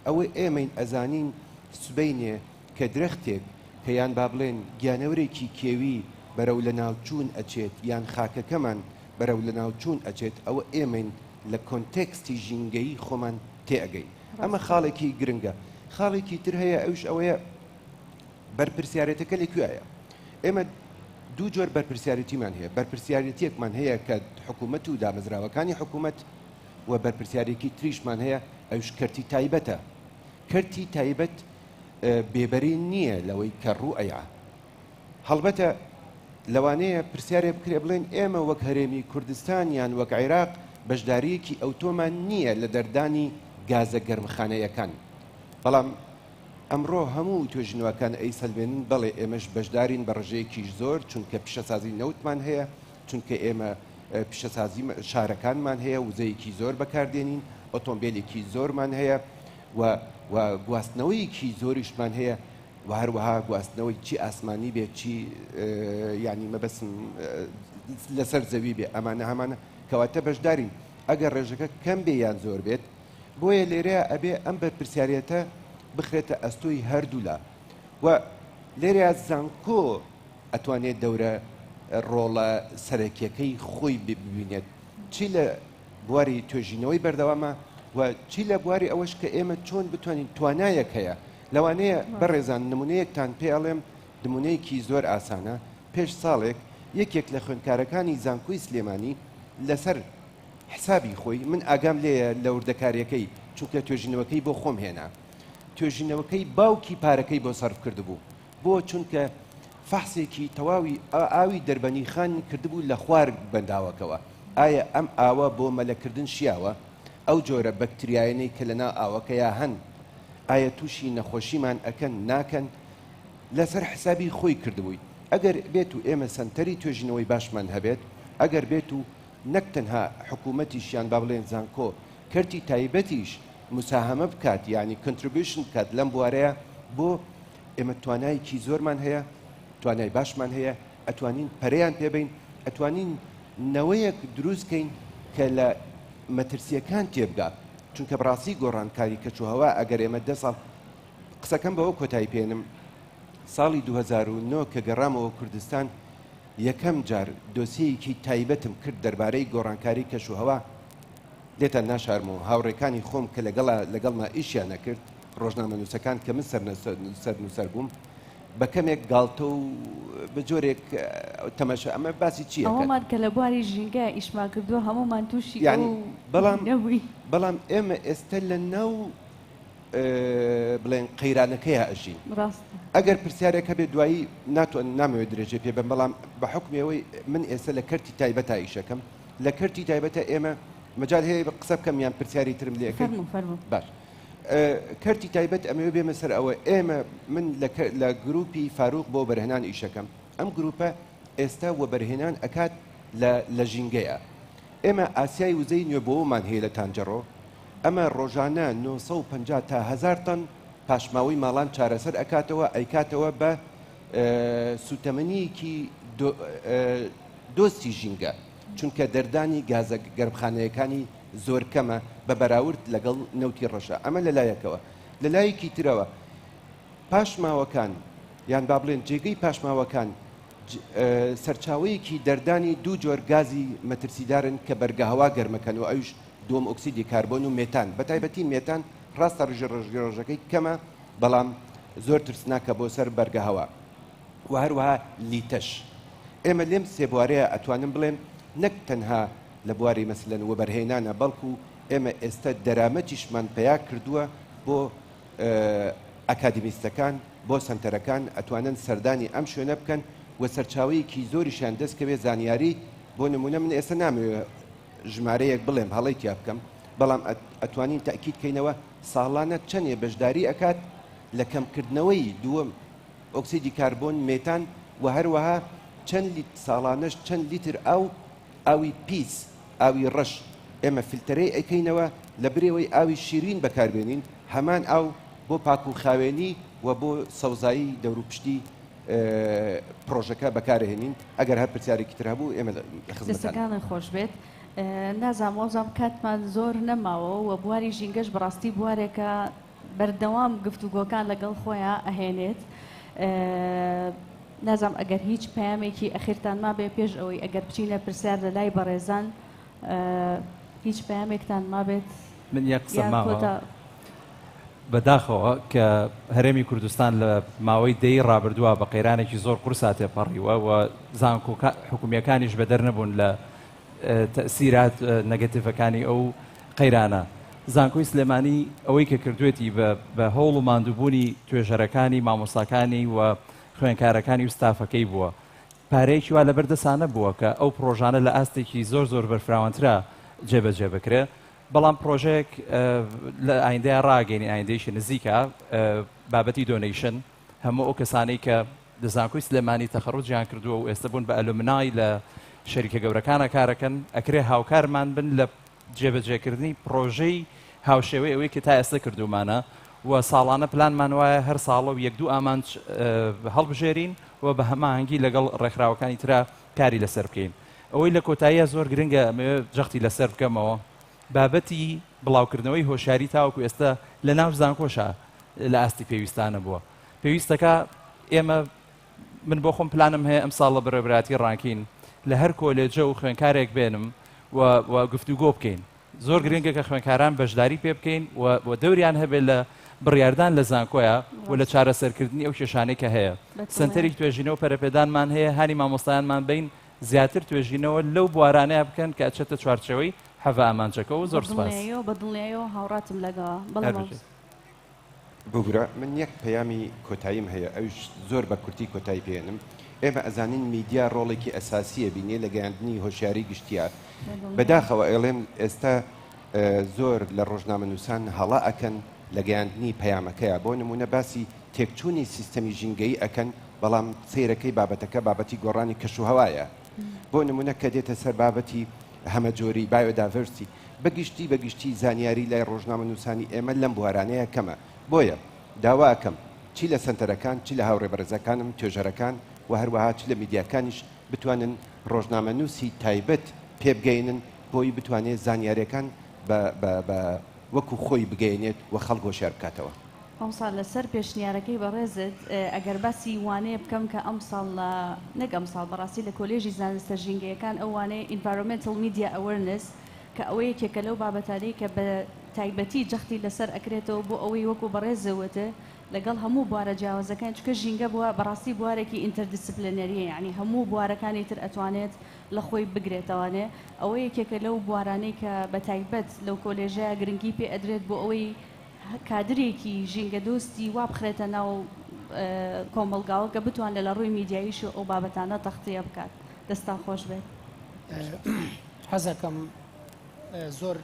ئەوەی ئێمەین ئەزانین سبەینێ کە درەختێک کە یان با بڵێن گیانەورێکی کێوی بەرەو لەناوچوون ئەچێت یان خاکەکەمان بەرەو لەناوچوون ئەچێت ئەوە ئێمەین لە کۆنتێکستی ژینگەیی خۆمان تێ ئەگەین ئەمە خاڵێکی گرنگە خاڵێکی تر هەیە ئەوش ئەوەیە بەرپرسیارێتەکە لە کوێیە ئێمە دوو جۆر بەرپرسیارەتیمان هەیە بەرپرسیارەتیەکمان هەیە کە حکوومەت و دامەزراوەکانی حکوومەت و بەرپرسیارێکی تریشمان هەیە ئەوش کەرتی تایبەتە کەرتی تایبەت بێبەری نییە لەوەی کە ڕوو ئەیا هەڵبەتە لەوانەیە پرسیارێ بکرێ بڵێن ئێمە وەک هەرێمی کوردستان یان وەک عێراق بەشداریەکی ئەوتۆمان نییە لە دەردانی گازە گەرمخانەیەکان بەڵام ئەمڕۆ هەموو توێژینەوەکان ئەی سەلمێنن بەڵێ ئێمەش بەشدارین بە ڕژەیەکیش زۆر چونکە پیشەسازی نەوتمان هەیە چونکە ئێمە پیشەسازی شارەکانمان هەیە، وزەیەکی زۆر بەکاردێنین، ئۆتۆمبێلێکی زۆرمان هەیە و گواستنەوەیەکی زۆریشمان هەیە و هەروەها گواستنەوەی چی ئاسمانی بێت چی ینی مەبەسم لەسەر زەوی بێ ئەمانە هەمانە کەواتە بەشدارین ئەگەر ڕێژەکە کەم بێ یان زۆر بێت بۆیە لێرەیە ئەبێ ئەم بەرپسیارەتە بخرێتە ئەستۆی هەردوولا و لێرە زانکۆ ئەتوانێت دەورە ڕۆڵە سەرەکیەکەی خۆی ببینێت چی لە بواری توێژینەوەی بەردەوامە و چی لە بواری ئەوەش کە ئێمە چۆن بتوانین توانایەک هەیە لەوانەیە بەڕێزان نمونەیەکتان پێ ئەڵێم نمونەیەکی زۆر ئاسانە پێش ساڵێک یەکێک لە خوێندکارەکانی زانکۆی سلێمانی لەسەر حسابی خۆی من ئاگام لێیە لە وردەکاریەکەی چونکە توێژینەوەکەی بۆ خۆم هێنا توێژینەوەکەی باوکی پارەکەی بۆ سەرف کرد بوو بۆ چونکە فەحسێکی تەواوی ئاوی دەربەنی خان کردبوو لە خوار بەنداوەکەوە ئایا ئەم ئاوە بۆ مەلەکردن شیاوە ئەو جۆرە بەکتریایەنەی کە لەنا ئاوەکەیا هەن ئایا تووشی نەخۆشیمان ئەکەن ناکەن لەسەر حسابی خۆی کردبووی ئەگەر بێت و ئێمە سەنتەری توێژینەوەی باشمان هەبێت ئەگەر بێت و نەک تەنها حکوومەتیشیان با بڵێن زانکۆ کەرتی تایبەتیش مساهمە بکات یعنی کنتربیشن بکات لەم بوارەیە بۆ ئێمە توانایەکی زۆرمان هەیە توانای باشمان هەیە ئەتوانین پەریان پێبین ئەتوانین نەوەیەک دروستکەین کە لە مەترسیەکان تێبگات چونکە بڕاستی گۆڕانکاری کەچوهوە ئەگەر ئێمە دە ساڵ قسەکەم بەوە کۆتایی پێێنم ساڵی 2009 کە گەڕامەوە کوردستان یەکەم جار دۆسیەیەکی تایبەتم کرد دەربارەی گۆڕانکاری کەشوهوە لێتان ناشارمەوە هاوڕێکانی خۆم کە لەگەڵا لەگەڵما ئیشیان ئەکرد، ڕۆژنامەنووسەکان کە من سەرنووسەر بووم، بە کەمێک گاڵتە و بە جۆرێک تەماشا ئەمە باسی چی ئەکات؟ ئەوەمان کە لە بواری ژینگەیا ئیشمان کردووە هەموومان تووشی ئەو نەبووین. بەڵام ئێمە ئێستە لە ناو بڵێن قەیرانەکەیا ئەژین. ڕاستە. ئەگەر پرسیارێک هەبێ دوایی ناتوان نامەوێ درێژەی پێ بەم، بەڵام بە حوکمی ئەوەی من ئێستە لە کەرتی تایبەتا ئیش ئەکەم، لە کەرتی تایبەتە ئێمە مەجال هەیە قسە بکەم یان پرسیاری ترم لێ بکەن فەرموو فەرموو باش کەرتی تایبەت ئەمەوێ بێمە سەر ئەوە ئێمە من لە کە- لە گروپی فاروق بۆ بەرهەنان ئیشەکەم ئەم گروپە ئێستا وەبەرهێنان ئەکات لە لە ژینگەیە ئێمە ئاسیای وزەی نوێ بۆمان هەیە لە تانجەڕۆ ئەمە ڕۆژانە 950 تا هزار تەن پاشماوەی ماڵان چارەسەر ئەکاتەوە ئەیکاتەوە بە سوتەمەنییەکی دۆستی ژینگە، چونکە دەردانی گازە گەرمخانەیەکانی زۆر کەمە بە بەراورد لەگەڵ نەوتی ڕەشە. ئەمە لە لایەکەوە. لە لایەکی ترەوە پاشماوەکان، یان با بڵێن جێگەی پاشماوەکان سەرچاوەیەکی دەردانی دوو جۆر گازی مەترسیدارن کە بەرگەهەوا گەرمەکەن و ئەویش دووەم ئۆکسیدی کاربۆن و مێتان، بەتایبەتی مێتان ڕاستە ڕژێ ڕژێ ڕژەکەی کەمە بەڵام زۆر ترسناکە بۆ سەر بەرگەهەوا و هەروەها لیتەش. ئێمە لێم سێ بوارەیە ئەتوانم بڵێم نەک تەنها لە بواری مەسلەن وەبەرهێنانە بەڵکو ئێمە ئێستە دەرامەتیشمان پەیا کردووە بۆ ئەکادیمیستەکان بۆ سەنتەرەکان ئەتوانن سەردانی ئەم شوێنە بکەن و سەرچاوەیەکی زۆریشیان دەست کەوێ زانیاری بۆ نمونە من ئێستا نامەوێ ژمارەیەک بڵێم هەڵەی تیا بکەم بەڵام ئەتوانین تەئکید کەینەوە ساڵانە چەنێ بەشداری ئەکات لە کەم کردنەوەی دووەم ئۆکسیدی کاربۆن، مێتان، و هەروەها چەن لیت ساڵانەش چەن لیتر ئاو ئاوی پیس ئاوی ڕەش ئێمە فلتەرەی ئەکەینەوە لە برێوەی ئاوی شیرین بەکاربێنین هەمان ئاو بۆ پاکو خاوێنی و بۆ سەوزایی دەورو پشتی پڕۆژەکە بەکارەهێنین ئەگەر هەر پرسیارێکی تر هەبوو ئێمە لە خزمەتانین. دەستەکانت خۆشبێت. نازانم وابزانم کاتمان زۆر نەماوە و بواری ژینگەش بەڕاستی بوارێکە بەردەوام گفتوگۆکان لەگەڵ خۆیان ئەهێنێت نازانم ئەگەر هیچ پامێکی ئەخیرتان ما بێ پێش ئەوەی ئەگەر بچینە پرسیار لە لای بەڕێزان هیچ پامێکتان ما بێت من یە قسە ماوە بەداخەوە کە هەرێمی کوردستان لە ماوەی دەی ڕابردووە بە قەیرانێکی زۆر قورسا تێپەڕیوە و زانکۆ حکومیەکانیش بەدەر نەبوون لە تەئسیرات نەگەتیڤەکانی ئەو قەیرانە. زانکۆی سلێمانی ئەوەی کە کردوێتی بە هەوڵ و ماندووبوونی توێژەرەکانی، مامۆستاکانی و خوێنکارەکانی و ستافەکەی بووە. پارەیەکی وا لەبەر دەسا نەبووە کە ئەو پڕۆژانە لە ئاستێکی زۆر زۆر بەرفراوانترا جێبەجێ بکرێ. بەڵام پڕۆژەیەک لە ئایندەیا ڕاگەینی ئایندەیەکی نزیکە بابەتی دۆنەیشن، هەموو ئەو کەسانەی کە لە زانکۆی سلێمانی تەخەڕوجیان کردووە و ئێستە بوون بە ئەلومنای لە شەریکە گەورەکانە کارەکەن ئەکرێ هاوکارمان بن لە جێبەجێکردنی پڕۆژەی هاوشێوەی ئەوەی کە تا ئێستا کردومانە و ساڵانە پلانمان وایە هەر ساڵە و یەک دوو ئامانج هەڵبژێرین و بە هەماهەنگی لەگەڵ ڕێکخراوەکانی ترا کاری لەسەر بکەین ئەوەی لە کۆتاییە زۆر گرنگە جەختی لەسەر بکەمەوە بابەتی بڵاوکردنەوەی هۆشیاری تاوەکو ئێستا لە ناو زانکۆشا لە ئاستی پێویستان نەبووە. پێویستەکا ئێمە من بۆ خۆم پلانم هەیە ئەم ساڵ لە بەڕێوەبەرایەتی ڕانکین لە هەر کۆلێجە و خوێندکارێک بێنم و و گفتوگۆ بکەین. زۆر گرنگە کە خوێندکاران بەشداری پێ بکەین و و دەوریان هەبێت لە بڕیاردان لە زانکۆیە و لە ڕاستە. چارەسەرکردنی ئەو کێشانەی کە هەیە. بە تەواوی. سەنتەری توێژینەوە و پەرەپێدانمان هەیە، هانی مامۆستایانمان بەین زیاتر توێژینەوە لەو بوارانەیا بکەن کە ئەچێتە چوارچێوەی حەڤە ئامانجەکە و زۆر سوپاس. بەدڵنیایەوە بەدڵنیایەوە هاوڕاتم لەگەڵە بەڵێ مامۆستا. ببورە من یەک پەیامی کۆتاییم هەیە ئەویش زۆر بە کورتی کۆتایی پێ ئێنم ئێمە ئەزانین میدیا ڕۆڵێکی ئەساسی ئەبینێ لە گەیاندنی هۆشیاری گشتیار بەداخەوە ئێڵێم ئێستا زۆر لە ڕۆژنامەنووسان هەڵە ئەکەن لە گەیاندنی پەیامەکەیە بۆ نمونە باسی تێکچوونی سیستەمی ژینگەیی ئەکەن بەڵام سەیرەکەی بابەتەکە بابەتی گۆڕانی کەش و هەوایە بۆ نمونە کە دێتە سەر بابەتی هەمەجۆری، Biodiversity، بە گشتی بە گشتی زانیاری لای ڕۆژنامەنووسانی ئێمە لەم بوارانەیە کەمە، بۆیە داوا ئەکەم چی لە سەنتەرەکان چ لە هاوڕێ بەڕێزەکانم توێژەرەکان و هەروەها چ لە میدیاکانیش بتوانن ڕۆژنامەنووسی تایبەت پێبگەینن بۆی بتوانێت زانیارەکان بە وەکو خۆی بگەیەنێت و خەڵک هۆشیار بکاتەوە. ئەوسا لەسەر پێشنیارەکەی بەڕێزت ئەگەر باسی وانەیە بکەم کە ئەمساڵ لە نەک ئەمساڵ بەڕاستی لە کۆلێژی زانستە ژینگەیەکان ئەو وانەیە Environmental Media Awareness کە ئەوە یەکێکە لەو بابەتانەی کە بە تایبەتی جەختی لەسەر ئەکرێتەوە بۆ ئەوەی وەکو بەڕێزت وت لەگەڵ هەموو بوارە جیاوازەکانی چونکە ژینگە بووە بەڕاستی بوارێکی ئینتەردیسپلێنەرییە یانی هەموو بوارەکانی تر ئەتوانێت لە خۆی بگرێتەوانێ ئەوە یەکێکە لەو بوارانەی کە بە تایبەت لەو کۆلێژەیە گرنگی پێ ئەدرێت بۆ ئەوەی کادرێکی ژینگەدۆستی وا بخرێتە ناو کۆمەڵگاوە کە بتوانێت لە ڕووی میدیاییش و ئەو بابەتانە تەختیە بکات دەستان خۆش بێت حەزەکەم زۆر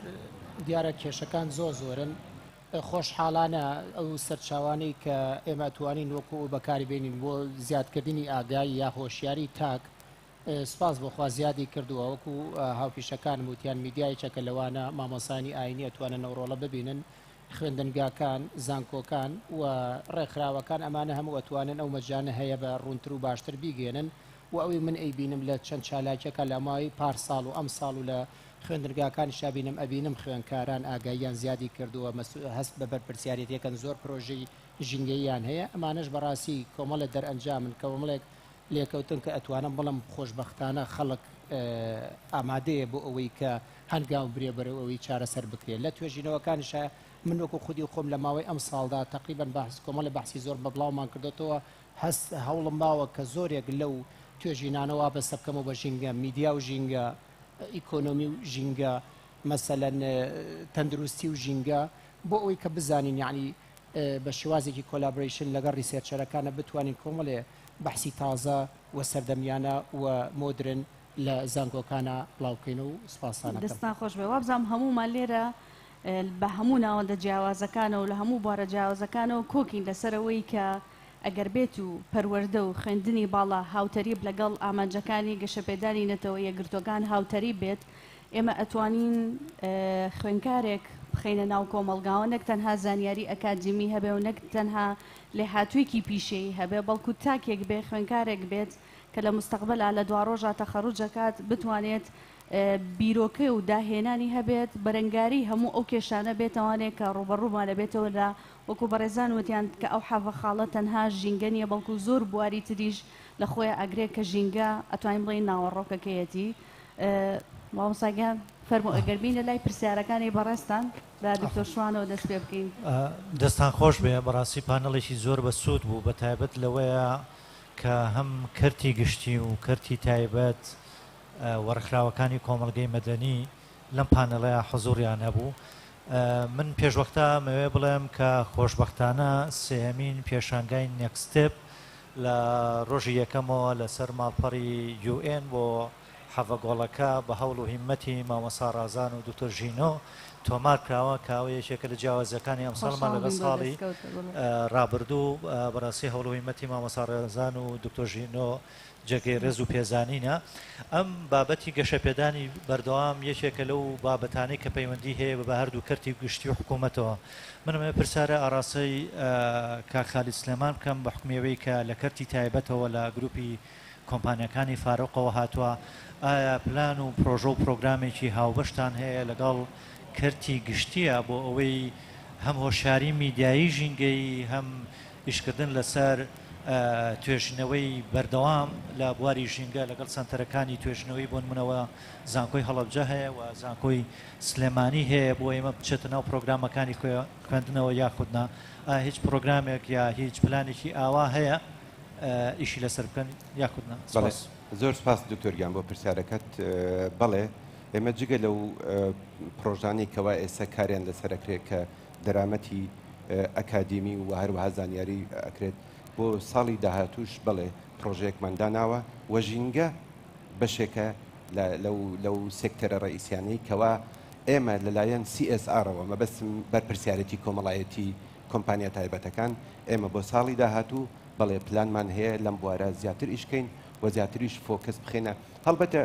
دیارە کێشەکان زۆر زۆرن خۆشحاڵانە ئەو سەرچاوانی کە ئێمە توانین وەکو بەکاری بێنین بۆ زیادکردنی ئاگای یا هۆشیاری تاک سپاس بۆ خوا زیادی کردووە وەکو هاوپیشەکانم وتیان میدیای چەکە لەوانە مامۆسانی ئاینی ئەتوانن ئەو ڕۆڵە ببینن خوێندنگاکان زانکۆکان و ڕێکخراوەکان ئەمانە هەموو ئەتوانن ئەو مەجانە هەیە بە ڕوونتر و باشتر بیگەێنن و ئەوەی من ئەی بینم لە چەند چالاکیەکە لە ماوەی پار ساڵ و ئەم ساڵ و لە خوێندنگاکانی شابینم ئەبینم خوێنکاران ئاگاییان زیادی کردووە هەست بە بەرپرسیارەتەکەن زۆر پرۆژەی ژینگەییان هەیە ئەمانەش بەڕاستی کۆمەڵە دەرئەنجامن کەوەمڵێک لێکەوتن کە ئەتوانم بڵێم خۆشبەختانە خەڵک ئامادەیە بۆ ئەوەی کە هەنگاو برێ بەرەو ئەوەی چارەسەر بکرێت لە توێژینەوەکانیشە من وەکو خودی خۆم لە ماوەی ئەم ساڵدا تقریبان بەحس کۆمەڵی بەحسی زۆر بە بڵاومان کردێتەوە هەست هەوڵم باوە کە زۆرێک لەو توێژینانە وابەستە بکەمەوە بە ژینگە میدیا و ژینگە ئیکۆنۆمی و ژینگە مەسەەن تەندروستی و ژینگە بۆ ئەوەی کە بزانین یعنی بە شێوازێکی کۆلابریشن لەگەڵ ریسێرچەرەکانە بتوانین کۆمەڵێ بەحسی تازە و سەردەمیانە و مۆدرن لە زانکۆکانا بڵاو بکەین و سوپاستان ئەکەم. دەستتان خۆش بێ وابزانم هەموومان لێرە بە هەموو ناوەندە جیاوازەکانەوە و لە هەموو بوارە جیاوازەکانەوە کۆکین لەسەر ئەوەی کە ئەگەر بێت و پەروەردە و خوێندنی باڵا هاوتەریب لەگەڵ ئامانجەکانی گەشەپێدانی نەتەوە یەکگرتووەکان هاوتەریب بێت ئێمە ئەتوانین خوێنکارێک بخەینە ناو کۆمەڵگاوە نەک تەنها زانیاری ئەکادیمی هەبێ و نەک تەنها لێهاتوویەکی پیشەیی هەبێ بەڵکو تاکێک بێ خوێنکارێک بێت کە لە مستەقبەلا لە دواڕۆژا تەخەڕوج ئەکات بتوانێت بیرۆکەی و داهێنانی هەبێت بەرەنگاری هەموو ئەو کێشانە بێتوانێ کە ڕووبەڕوومان ئەبێتەوە لە وەکو بەڕێزان وتیان کە ئەو حەڤە خاڵە تەنها ژینگە نیە بەڵکو زۆر بواری تریش لە خۆی ئەگرێ کە ژینگە ئەتوانین بڵێین ناوەڕۆکەکەیەتی مامۆستا گیان فەرموو ئەگەر بینە لای پرسیارەکانی بەڕێزتان. لە دکتۆر شوانەوە دەست پێ بکەین. دەستتان خۆش بێ بەڕاستی پانڵێکی زۆر بە سوود بوو بە تایبەت لەوەیە کە هەم کەرتی گشتی و کەرتی تایبەت و ڕێکخراوەکانی کۆمەڵگەی مەدەنی لەم پانێڵەیە حەزوڕیان هەبوو من پێشوەختە مەوێ بڵێم کە خۆشببختانە سێمین پێشانگای نێکستپ لە ڕۆژی یەکەمەوە لەسەر ماڵپەڕی UN بۆ حەڤە گۆڵەکە بە هەوڵ و هیممەتی مامۆستا ڕازان و دوکتۆر ژینۆ تۆمار کراوە کە ئەوە یەکێکە لە جیاوازیەکانی ئەمساڵمان لەگەڵ ساڵی ڕابردوو بەڕاستی هەوڵ و هیممەتی مامۆستا ڕێزان و دوکتۆر ژینۆ جێگەی ڕێز و پێزانینە ئەم بابەتی گەشەپێدانی بەردەوام یەکێکە لەو بابەتانی کە پەیوەندی هەیە بە هەردوو کەرتی گشتی و حکوومەتەوە منمێ پرسیارە ئاراسی کاخالی سلێمان بکەم بە حکومەوەی کە لە کەرتی تایبەتەوە لە گروپی کۆمپانیاکانی فارۆقەوە هاتووە، ئایا پلان و پرۆژە و پرۆگرامێکی هاوبەشتان هەیە لەگەڵ کەرتی گشتییە بۆ ئەوەی هەم هۆشیاری میدیایی ژینگەیی هەم ئیشکردن لەسەر توێژینەوەی بەردەوام لە بواری ژینگە لەگەڵ سەنتەرەکانی توێژینەوەی بۆنمونەوە زانکۆی هەڵەبجە هەیە و زانکۆی سلێمانی هەیە بۆ ئێمە بچێتە ناو پرۆگرامەکانی خوێندنەوە یاخودنا ئایا هیچ پرۆگرامێک یا هیچ پلانێکی ئاوا هەیە؟ ئیشی لەسەر بکەن یاخود نا سپاس. زۆر سپاس دکتۆر گیان بۆ پرسیارەکەت بەڵێ ئێمە جگە لەو پرۆژانەی کەوا ئێستا کاریان لەسەرەکرێت کە دەرامەتی ئەکادیمی و هەروەها زانیاری ئەکرێت بۆ ساڵی داهاتوش بڵێ پرۆژەیەکمان داناوە و ژینگە بەشێکە لەو سێکتەرە ڕئیسیانەی کەوا ئێمە لەلایەن CSRەوە مەبەستم بەرپرسیارەتی کۆمەڵایەتی کۆمپانیا تایبەتەکان، ئێمە بۆ ساڵی داهاتوو بەڵێ پلانمان هەیە لەم بوارە زیاتر ئیش بکەین و زیاتریش فۆکەس بخەینە هەڵبەتە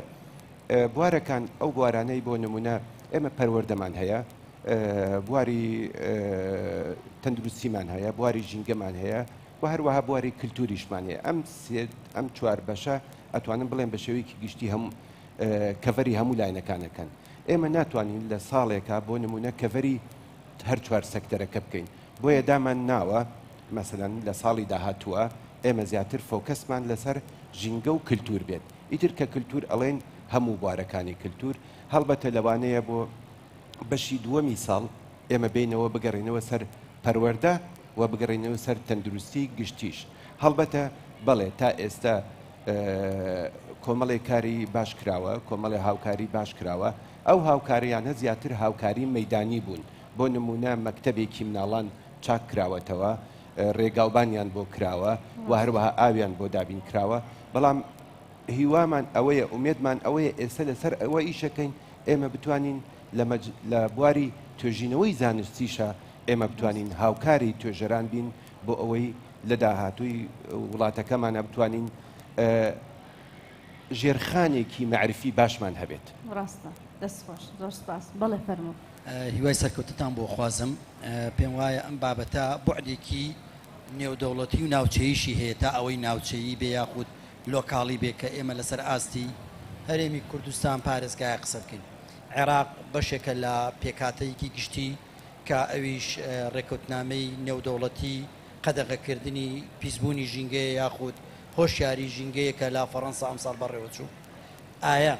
بوارەکان، ئەو بوارانەی بۆ نموونە ئێمە پەروەردەمان هەیە، بواری تەندروستیمان هەیە، بواری ژینگەمان هەیە و هەروەها بواری کللتوریشمان هەیە ئەم ئەم چوار بەشە ئەتوانم بڵێن بە شێوەیەکی گشتی هەم کەڤەری هەموو لاینەکانەکەن ئێمە ناتوانین لە ساڵێکە بۆ نمونە کەڤەری هەر چوار سەکتەرەکە بکەین بۆیە دامان ناوە مەسەلەن لە ساڵی داهاتووە ئێمە زیاتر فۆکەسمان لەسەر ژینگە و کللتور بێت ئیتر کە کللتور ئەڵێن هەموو بوارەکانی کللتور هەڵبەتە لەوانەیە بۆ بەشی دووەمی ساڵ ئێمە بینەوە بگەڕینەوە سەر پەروەەردە و بگەڕینەوە سەر تەندروستی گشتیش هەڵبەتە بەڵێ تا ئێستا کۆمەڵێ کاری باش کراوە کۆمەڵێ هاوکاری باش کراوە ئەو هاوکارییانە زیاتر هاوکاریی مەیدانی بوون، بۆ نموونە مەکتەبێکی مناڵان چاک کراوەتەوە، رێگاوبانیان بۆ کراوە و هەروەها ئاویان بۆ دابین کراوە، بەڵام هیوامان ئەوەیە، ئومێدمان ئەوەیە ئێستا لەسەر ئەوە ئیش ئەکەین ئێمە بتوانین لە لە بواری توێژینەوەی زانستیشا ئێمە بتوانین هاوکاری توێژەران بین بۆ ئەوەی لە داهاتووی وڵاتەکەمانا بتوانین ژێرخانێکی مەعریفی باشمان هەبێت. ڕاستە دەست خۆش زۆر سپاس بەڵێ فەرموو. هیوای سەرکەوتنتان بۆ خوازم. پێم وایە ئەم بابەتە بوعدێکی نێودەوڵەتی و ناوچەییشی هەیە تا ئەوەی ناوچەیی بێ یاخود لۆکاڵی بێ کە ئێمە لەسەر ئاستی هەرێمی کوردستان پارێزگایە قسە بکەین. عێراق بەشێکە لە پێکهاتەیەکی گشتی کە ئەویش ڕێکەوتنامەی نێودەوڵەتی قەدەغەکردنی پیسبوونی ژینگەیە یاخود هۆشیاری ژینگەیە کە لە فەڕەنسا ئەمساڵ بەڕێوەچوو؟ ئایە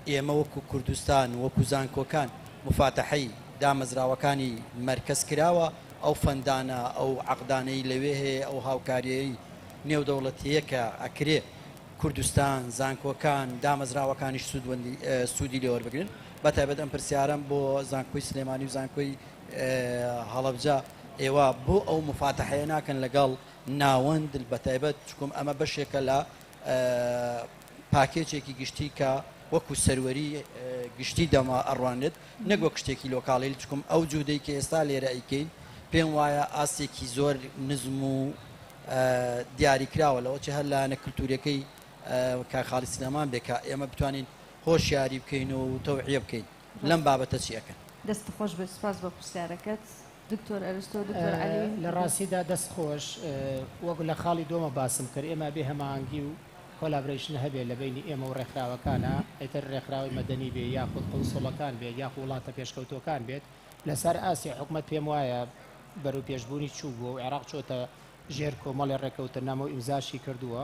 ئێمە وەکو کوردستان و وەکو زانکۆکان موفاتەحەی دامەزراوەکانی مەرکەز کراوە ئەو فەندانە ئەو عەقدانەی لەوێ هەیە ئەو هاوکاریەی نێودەوڵەتیە کە ئەکرێ کوردستان زانکۆکان دامەزراوەکانیش سوودی لێوەربگرن بەتایبەت ئەم پرسیارەم بۆ زانکۆی سلێمانی و زانکۆی هەڵەبجە ئێوە بۆ ئەو مفاتەحەیە ناکەن لەگەڵ ناوەند بەتایبەت چکم ئەمە بەشێکە لە پاکێچێکی گشتی کە وەکو سەروەری گشتی دەما ئەڕوانێت نەک وەک شتێکی لۆکاڵی چکم ئەو جوودەی کە ئێستا لێرە ئەیکەین پێم وایە ئاستێکی زۆر نزم و دیاریکراوە لەوە چه هەر لاەنە کللتوورەکەی کاخاڵی سلێمان بێکە ئێمە بتوانین هۆشیاری بکەین و تەوعە بکەین لەم بابەتە چی ئەکەن؟ دەست خۆش بێت سپاس بۆ پرسیارەکەت دکتۆر ئەرستۆ دکتۆر عەلی لە ڕاستیدا دەست خۆش وەک لە خاڵی دۆمە باسم کرد ئێمە بێ هەماهەنگی و کۆلابرەیشن هەبێت لە بینی ئێمە و ڕێکخراوەکانە ئیتر ڕێکخراوی مەدەنی بێ یاخود قونسڵەکان بێت یاخ وڵاتە پێشکەوتوەکان بێت لەسەر ئاستی حکومت پێم وایە بەرەو پێشبوونی چوو بووە و عێراق چۆتە ژێر کۆمەڵی ڕێکەوتنامە و ئیمزاشی کردووە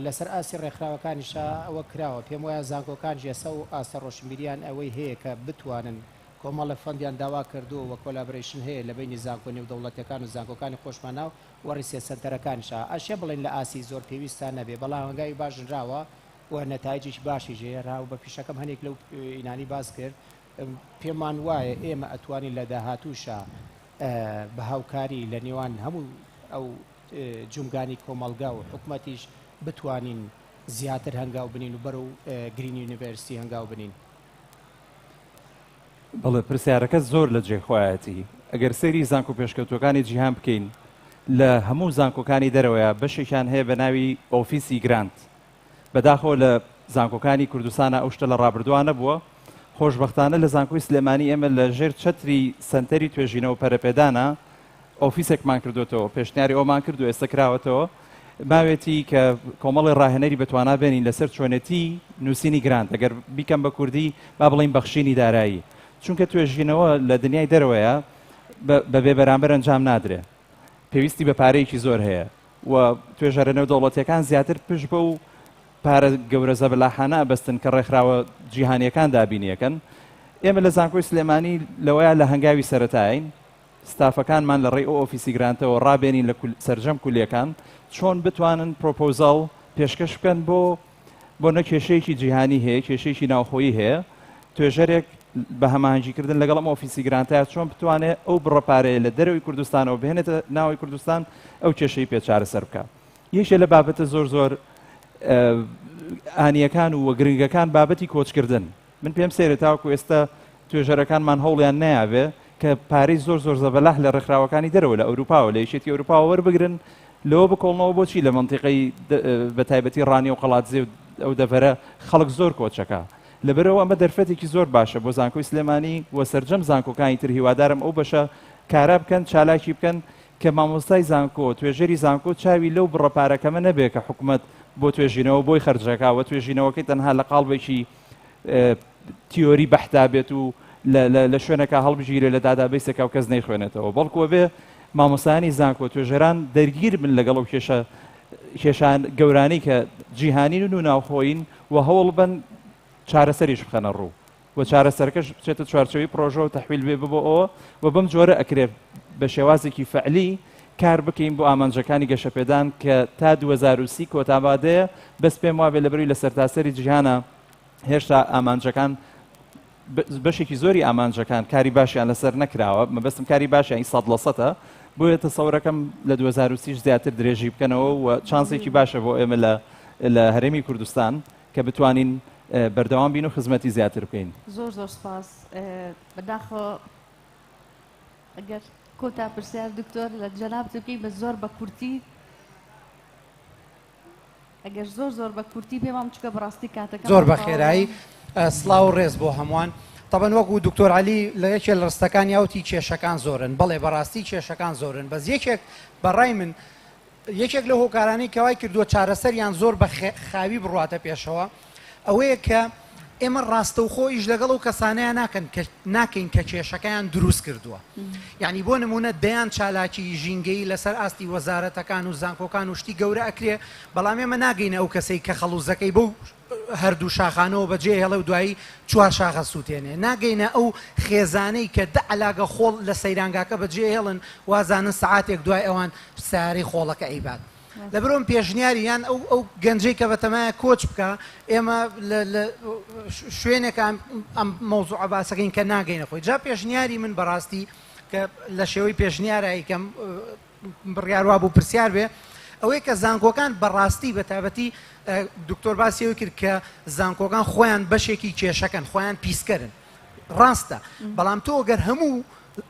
لەسەر ئاستی ڕێکخراوەکانیشا ئەوە کراوە، پێم وایە زانکۆکانیش ئێستا ئەو ئاستە ڕۆشنبیرییان ئەوەی هەیە کە بتوانن کۆمەڵە فەندیان داوا کردووە و کۆلابرەیشن هەیە لە بەینی زانکۆ نێودەوڵەتییەکان و زانکۆکانی خۆشمانا و و ڕیسێچ سەنتەرەکانیشا ئەشێ بڵێین لە ئاستی زۆر پێویستدا نەبێ بەڵام هەنگاوی باش نراوە و نەتایجیش باشیش هەیە و بە پیشەکەم هەنێک لەو ئینانەی باس کرد پێمان وایە ئێمە ئەتوانین لە داهاتووشا بە هاوکاری لە نێوان هەموو ئەو جومگانی کۆمەڵگا و حکومەتیش بتوانین زیاتر هەنگاو بنین و بەرەو گرین یونیڤەرستی هەنگاو بنین. بەڵێ پرسیارەکە زۆر لە جێ خۆیەتی ئەگەر سەیری زانکۆ پێشکەوتوەکانی جیهان بکەین لە هەموو زانکۆکانی دەرەوەیە بەشێکیان هەیە بە ناوی ئۆفیسی گرانت بەداخەوە لە زانکۆکانی کوردستانا ئەو شتە لە ڕابردووا نەبووە خۆشببختانە لە زانکۆی سلێمانی ئێمە لە ژێر چەتری سەنتەری توێژینەوە پەرەپێدانە ئۆفیسێکمان کردوێتەوە پێشنیاری ئەومان کرد و ئێستا کراوەتەوە ماوێتی کە کۆمەڵی ڕاهێنەری بەتوانا بێنین لەسەر چۆنێتی نووسینی گرانت ئەگەر بیکەم بە کوردی با بڵین بەخشینی دارایی چونکە توێژینەوە لە دنیای دەرەوەیە بە بێبەرامبەر ئەنجام نادرێ پێویستی بە پارەیەکی زۆر هەیە و توێژەرە نێودەوڵەتییەکان زیاتر پشت بەو پارە گەورە زەبەلاحانە ئەبەستن کە ڕێکخراوە جیهانییەکان دابینیەکەن ئێمە لە زانکۆی سلێمانی لەوەیە لە هەنگاوی سەتایین ستافەکانمان لە ڕێی ئەو ئۆفیسی گرانتەوە ڕابێنین لە سەرجەم کولیەکان چۆن بتوانن پرۆپۆزاڵ پێشکەش بکەن بۆ بۆ نە کێشەیەکی جیهانی هەیە کێشەیەکی ناوخۆیی هەیە توێژەرێک بە هەماهنگگیکردن لەگەڵ ئەم ئۆفیسی گرانتە چۆن بتوانێت ئەو بڕەپارەیە لە دەرەوەی کوردستانەوە بهێنێتە ناوی کوردستان ئەو کێشەی پێ چارەسەر بکە یەکێ لە بابەتە زۆر زۆر ئانیەکان و گرنگەکان بابەتی کۆچکردن من پێم سەیرە تاوەکو ئێستا توێژەرەکانمان هەوڵیان نەیاوێ کە پارەی زۆر زۆر زەبەلاح لە ڕێکخراوەکانی دەرەوە لە ئەوروپاوە لە یەکێتی ئەوروپاوە وەربگرن لەوە بکۆڵنەوە بۆچی لە مەنتیقەی بە تایبەتی ڕانیە و قەڵادزێ و ئەو دەڤەرە خەڵک زۆر کۆچەکە لەبەرەوە ئەمە دەرفەتێکی زۆر باشە بۆ زانکۆی سلێمانی و سەرجەم زانکۆکانی تر هیوادارم ئەو بەشە کارا بکەن چالاکی بکەن کە مامۆستای زانکۆ توێژەری زانکۆ چاوی لەو بڕە پارەکەمە نەبێت کە حکوومەت بۆ توێژینەوە بۆی خەرجەکە و توێژینەوەکەی تەنها لە قاڵبێکی تیۆری بەحتا بێت و لە شوێنەکە هەڵبژیرێ لە دادابیسێکا و کەس نەیخوێنێتەوە بەڵکووە بێ مامۆسانی زانکۆ توێژەران دەرگیر من لەگەڵ و کێشە کێشان گەورانی کە جیهانین و ناوخۆین و هەوڵ بن چارەسەریش بخەنە ڕوو و چارەسەرکەش بچێتە چوارچەوەی پرۆژە و تحویل بێ ببەوە و بەم جۆرە ئەکرێت بە شێوازێکی فعلی کار بکەین بۆ ئامانجەکانی گەشەپێدان کە تا دوو هەزار و سی کۆتا بادەیە، بەس پێم وابێ لەبەروی لە سەرتاسەری جیهانە هێشتا ئامانجەکان ب- بەشێکی زۆری ئامانجەکان کاری باشیان لەسەر نەکراوە، مەبەستم کاری باشیان ئی سەد لە سەدە، بۆیە تەسەورەکەم لە دوو هەزار و سی ش زیاتر درێژی بکەنەوە و چانسێکی باشە بۆ ئێمە لە لە هەرێمی کوردستان کە بتوانین اه، بەردەوام بین و خزمەتی زیاتر بکەین. زۆر زۆر سپاس اه، بەداخەوە. ئەگەر کۆتا پرسیار دکتۆر لە جەنابت بکەی بە زۆر بە کورتی ئەگەر زۆر زۆر بە کورتی پێمام چکە بەڕاستی کاتەکە زۆر بە خێرایی سلااو و ڕێز بۆ هەمووان طبعاً وەکو دکتۆر علی لە یەکێ لە ڕستەکان یاوتی کێشەکان زۆرن بەڵێ بەڕاستی کێشەکان زۆرن بەس یەکێک بەڕای من یەکێک لەو هۆکارانەی کە وای کردووە چارەسەریان زۆر بە خاوی بڕواتە پێشەوە ئەوەیە کە ئێمە ڕاستەوخۆ ئیش لەگەڵ و کەسانەیە ناکەن کە ناکەین کە کێشەکەیان دروست کردووە یعنی بۆ نمونە دەیان چالاکی ژینگەی لەسەر ئاستی وەزارەتەکان و زانکۆکان و شتی گەورە ئەکرێ بەڵام ئێمە ناگەینە ئەو کەسەی کە خەڵوزەکەی بەو هەردوو شاخانەوە بە جێ هێڵێ و دوایی چوار شاخە سووتێنێ. ناگەینە ئەو خێزانەی کە دە عەلاگە خۆڵ لە سەیرانگاکە بە جێ هێڵن، وازانن سەعاتێک دوای ئەوان سەیارەی خۆڵەکە ئەیبات. لە بەرەوەم پێشنیاری یان ئەو ئەو گەنجەی کە بەتەمایە کۆچ بکا، ئێمە لە لە شوێنێکا ئەم مەوزوعە باسەکەین کە ناگەینە خۆی. جا پێشنیاری من بە ڕاستی کە لە شێوەی پێشنیارا ئەیکەم، بڕیار وابوو پرسیار بێ ئەوەی کە زانکۆکان بەڕاستی بە تابەتی دکتۆر باسی ئەوی کرد کە زانکۆکان خۆیان بەشێکی کێشەکەن خۆیان پیسکەرن ڕاستە بەڵام تۆ گەر هەموو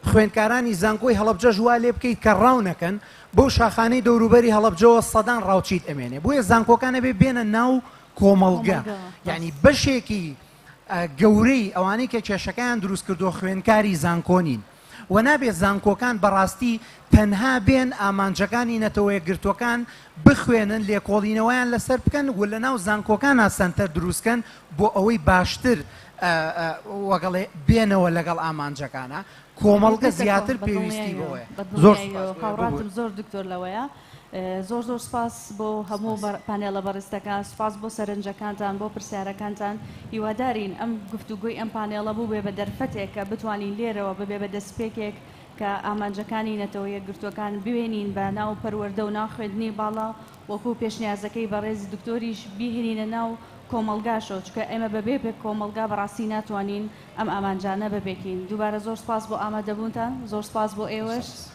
خوێندکارانی زانکۆی هەڵبجە ژوا لێ بکەیت کە ڕاونەکەن بۆ شاخانی دەوروبەری هەڵبجەوە سەدان ڕاوچیت ئەمێنێ بۆیە زانکۆکانە بێ بێنە ناو کۆمەڵگە یعنی بەشێکی گەورەی ئەوانەی کە کێشەکەیان دروست کردو خوێندکاری زانکۆنین و نابێت زانکۆکان بەڕاستی تەنها بێن ئامانجەکانی نەتەوەیەکگرتووەکان بخوێنن لێکۆڵینەوەیان لەسەر بکەن و لەناو زانکۆکانا سەنتەر دروستکەن بۆ ئەوەی باشتر وەگەڵێ بێنەوە لەگەڵ ئامانجەکانە کۆمەڵگە زیاتر پێویستی بەوەیە زۆر سوپاس. زۆر زۆر سپاس بۆ هەموو پانێڵە بەڕستەکە سپاس بۆ سەرنجەکانتان بۆ پرسیارەکانتان هیوادارین ئەم گفتوگۆی ئەم پانێڵە بوو بێ بە دەرفەتێک کە بتوانین لێرەوە ببێ بە دەستپێکێک کە ئامانجەکانی نەتەوە یەکگرتوەکان بێنین بە ناو پەروەەردە و ناخوێندنی باڵا وەکو پێشنیازەکەی بەڕێزی دکتۆریش بیهێنینە ناو کۆمەلگاشەوە چکە ئێمە بەبێ پێک کۆمەلگا بەڕاستی ناتوانین ئەم ئامانجانە بپێکین دووبارە زۆر سپاس بۆ ئامادەبوونتان زۆر سپاس بۆ ئێوەش.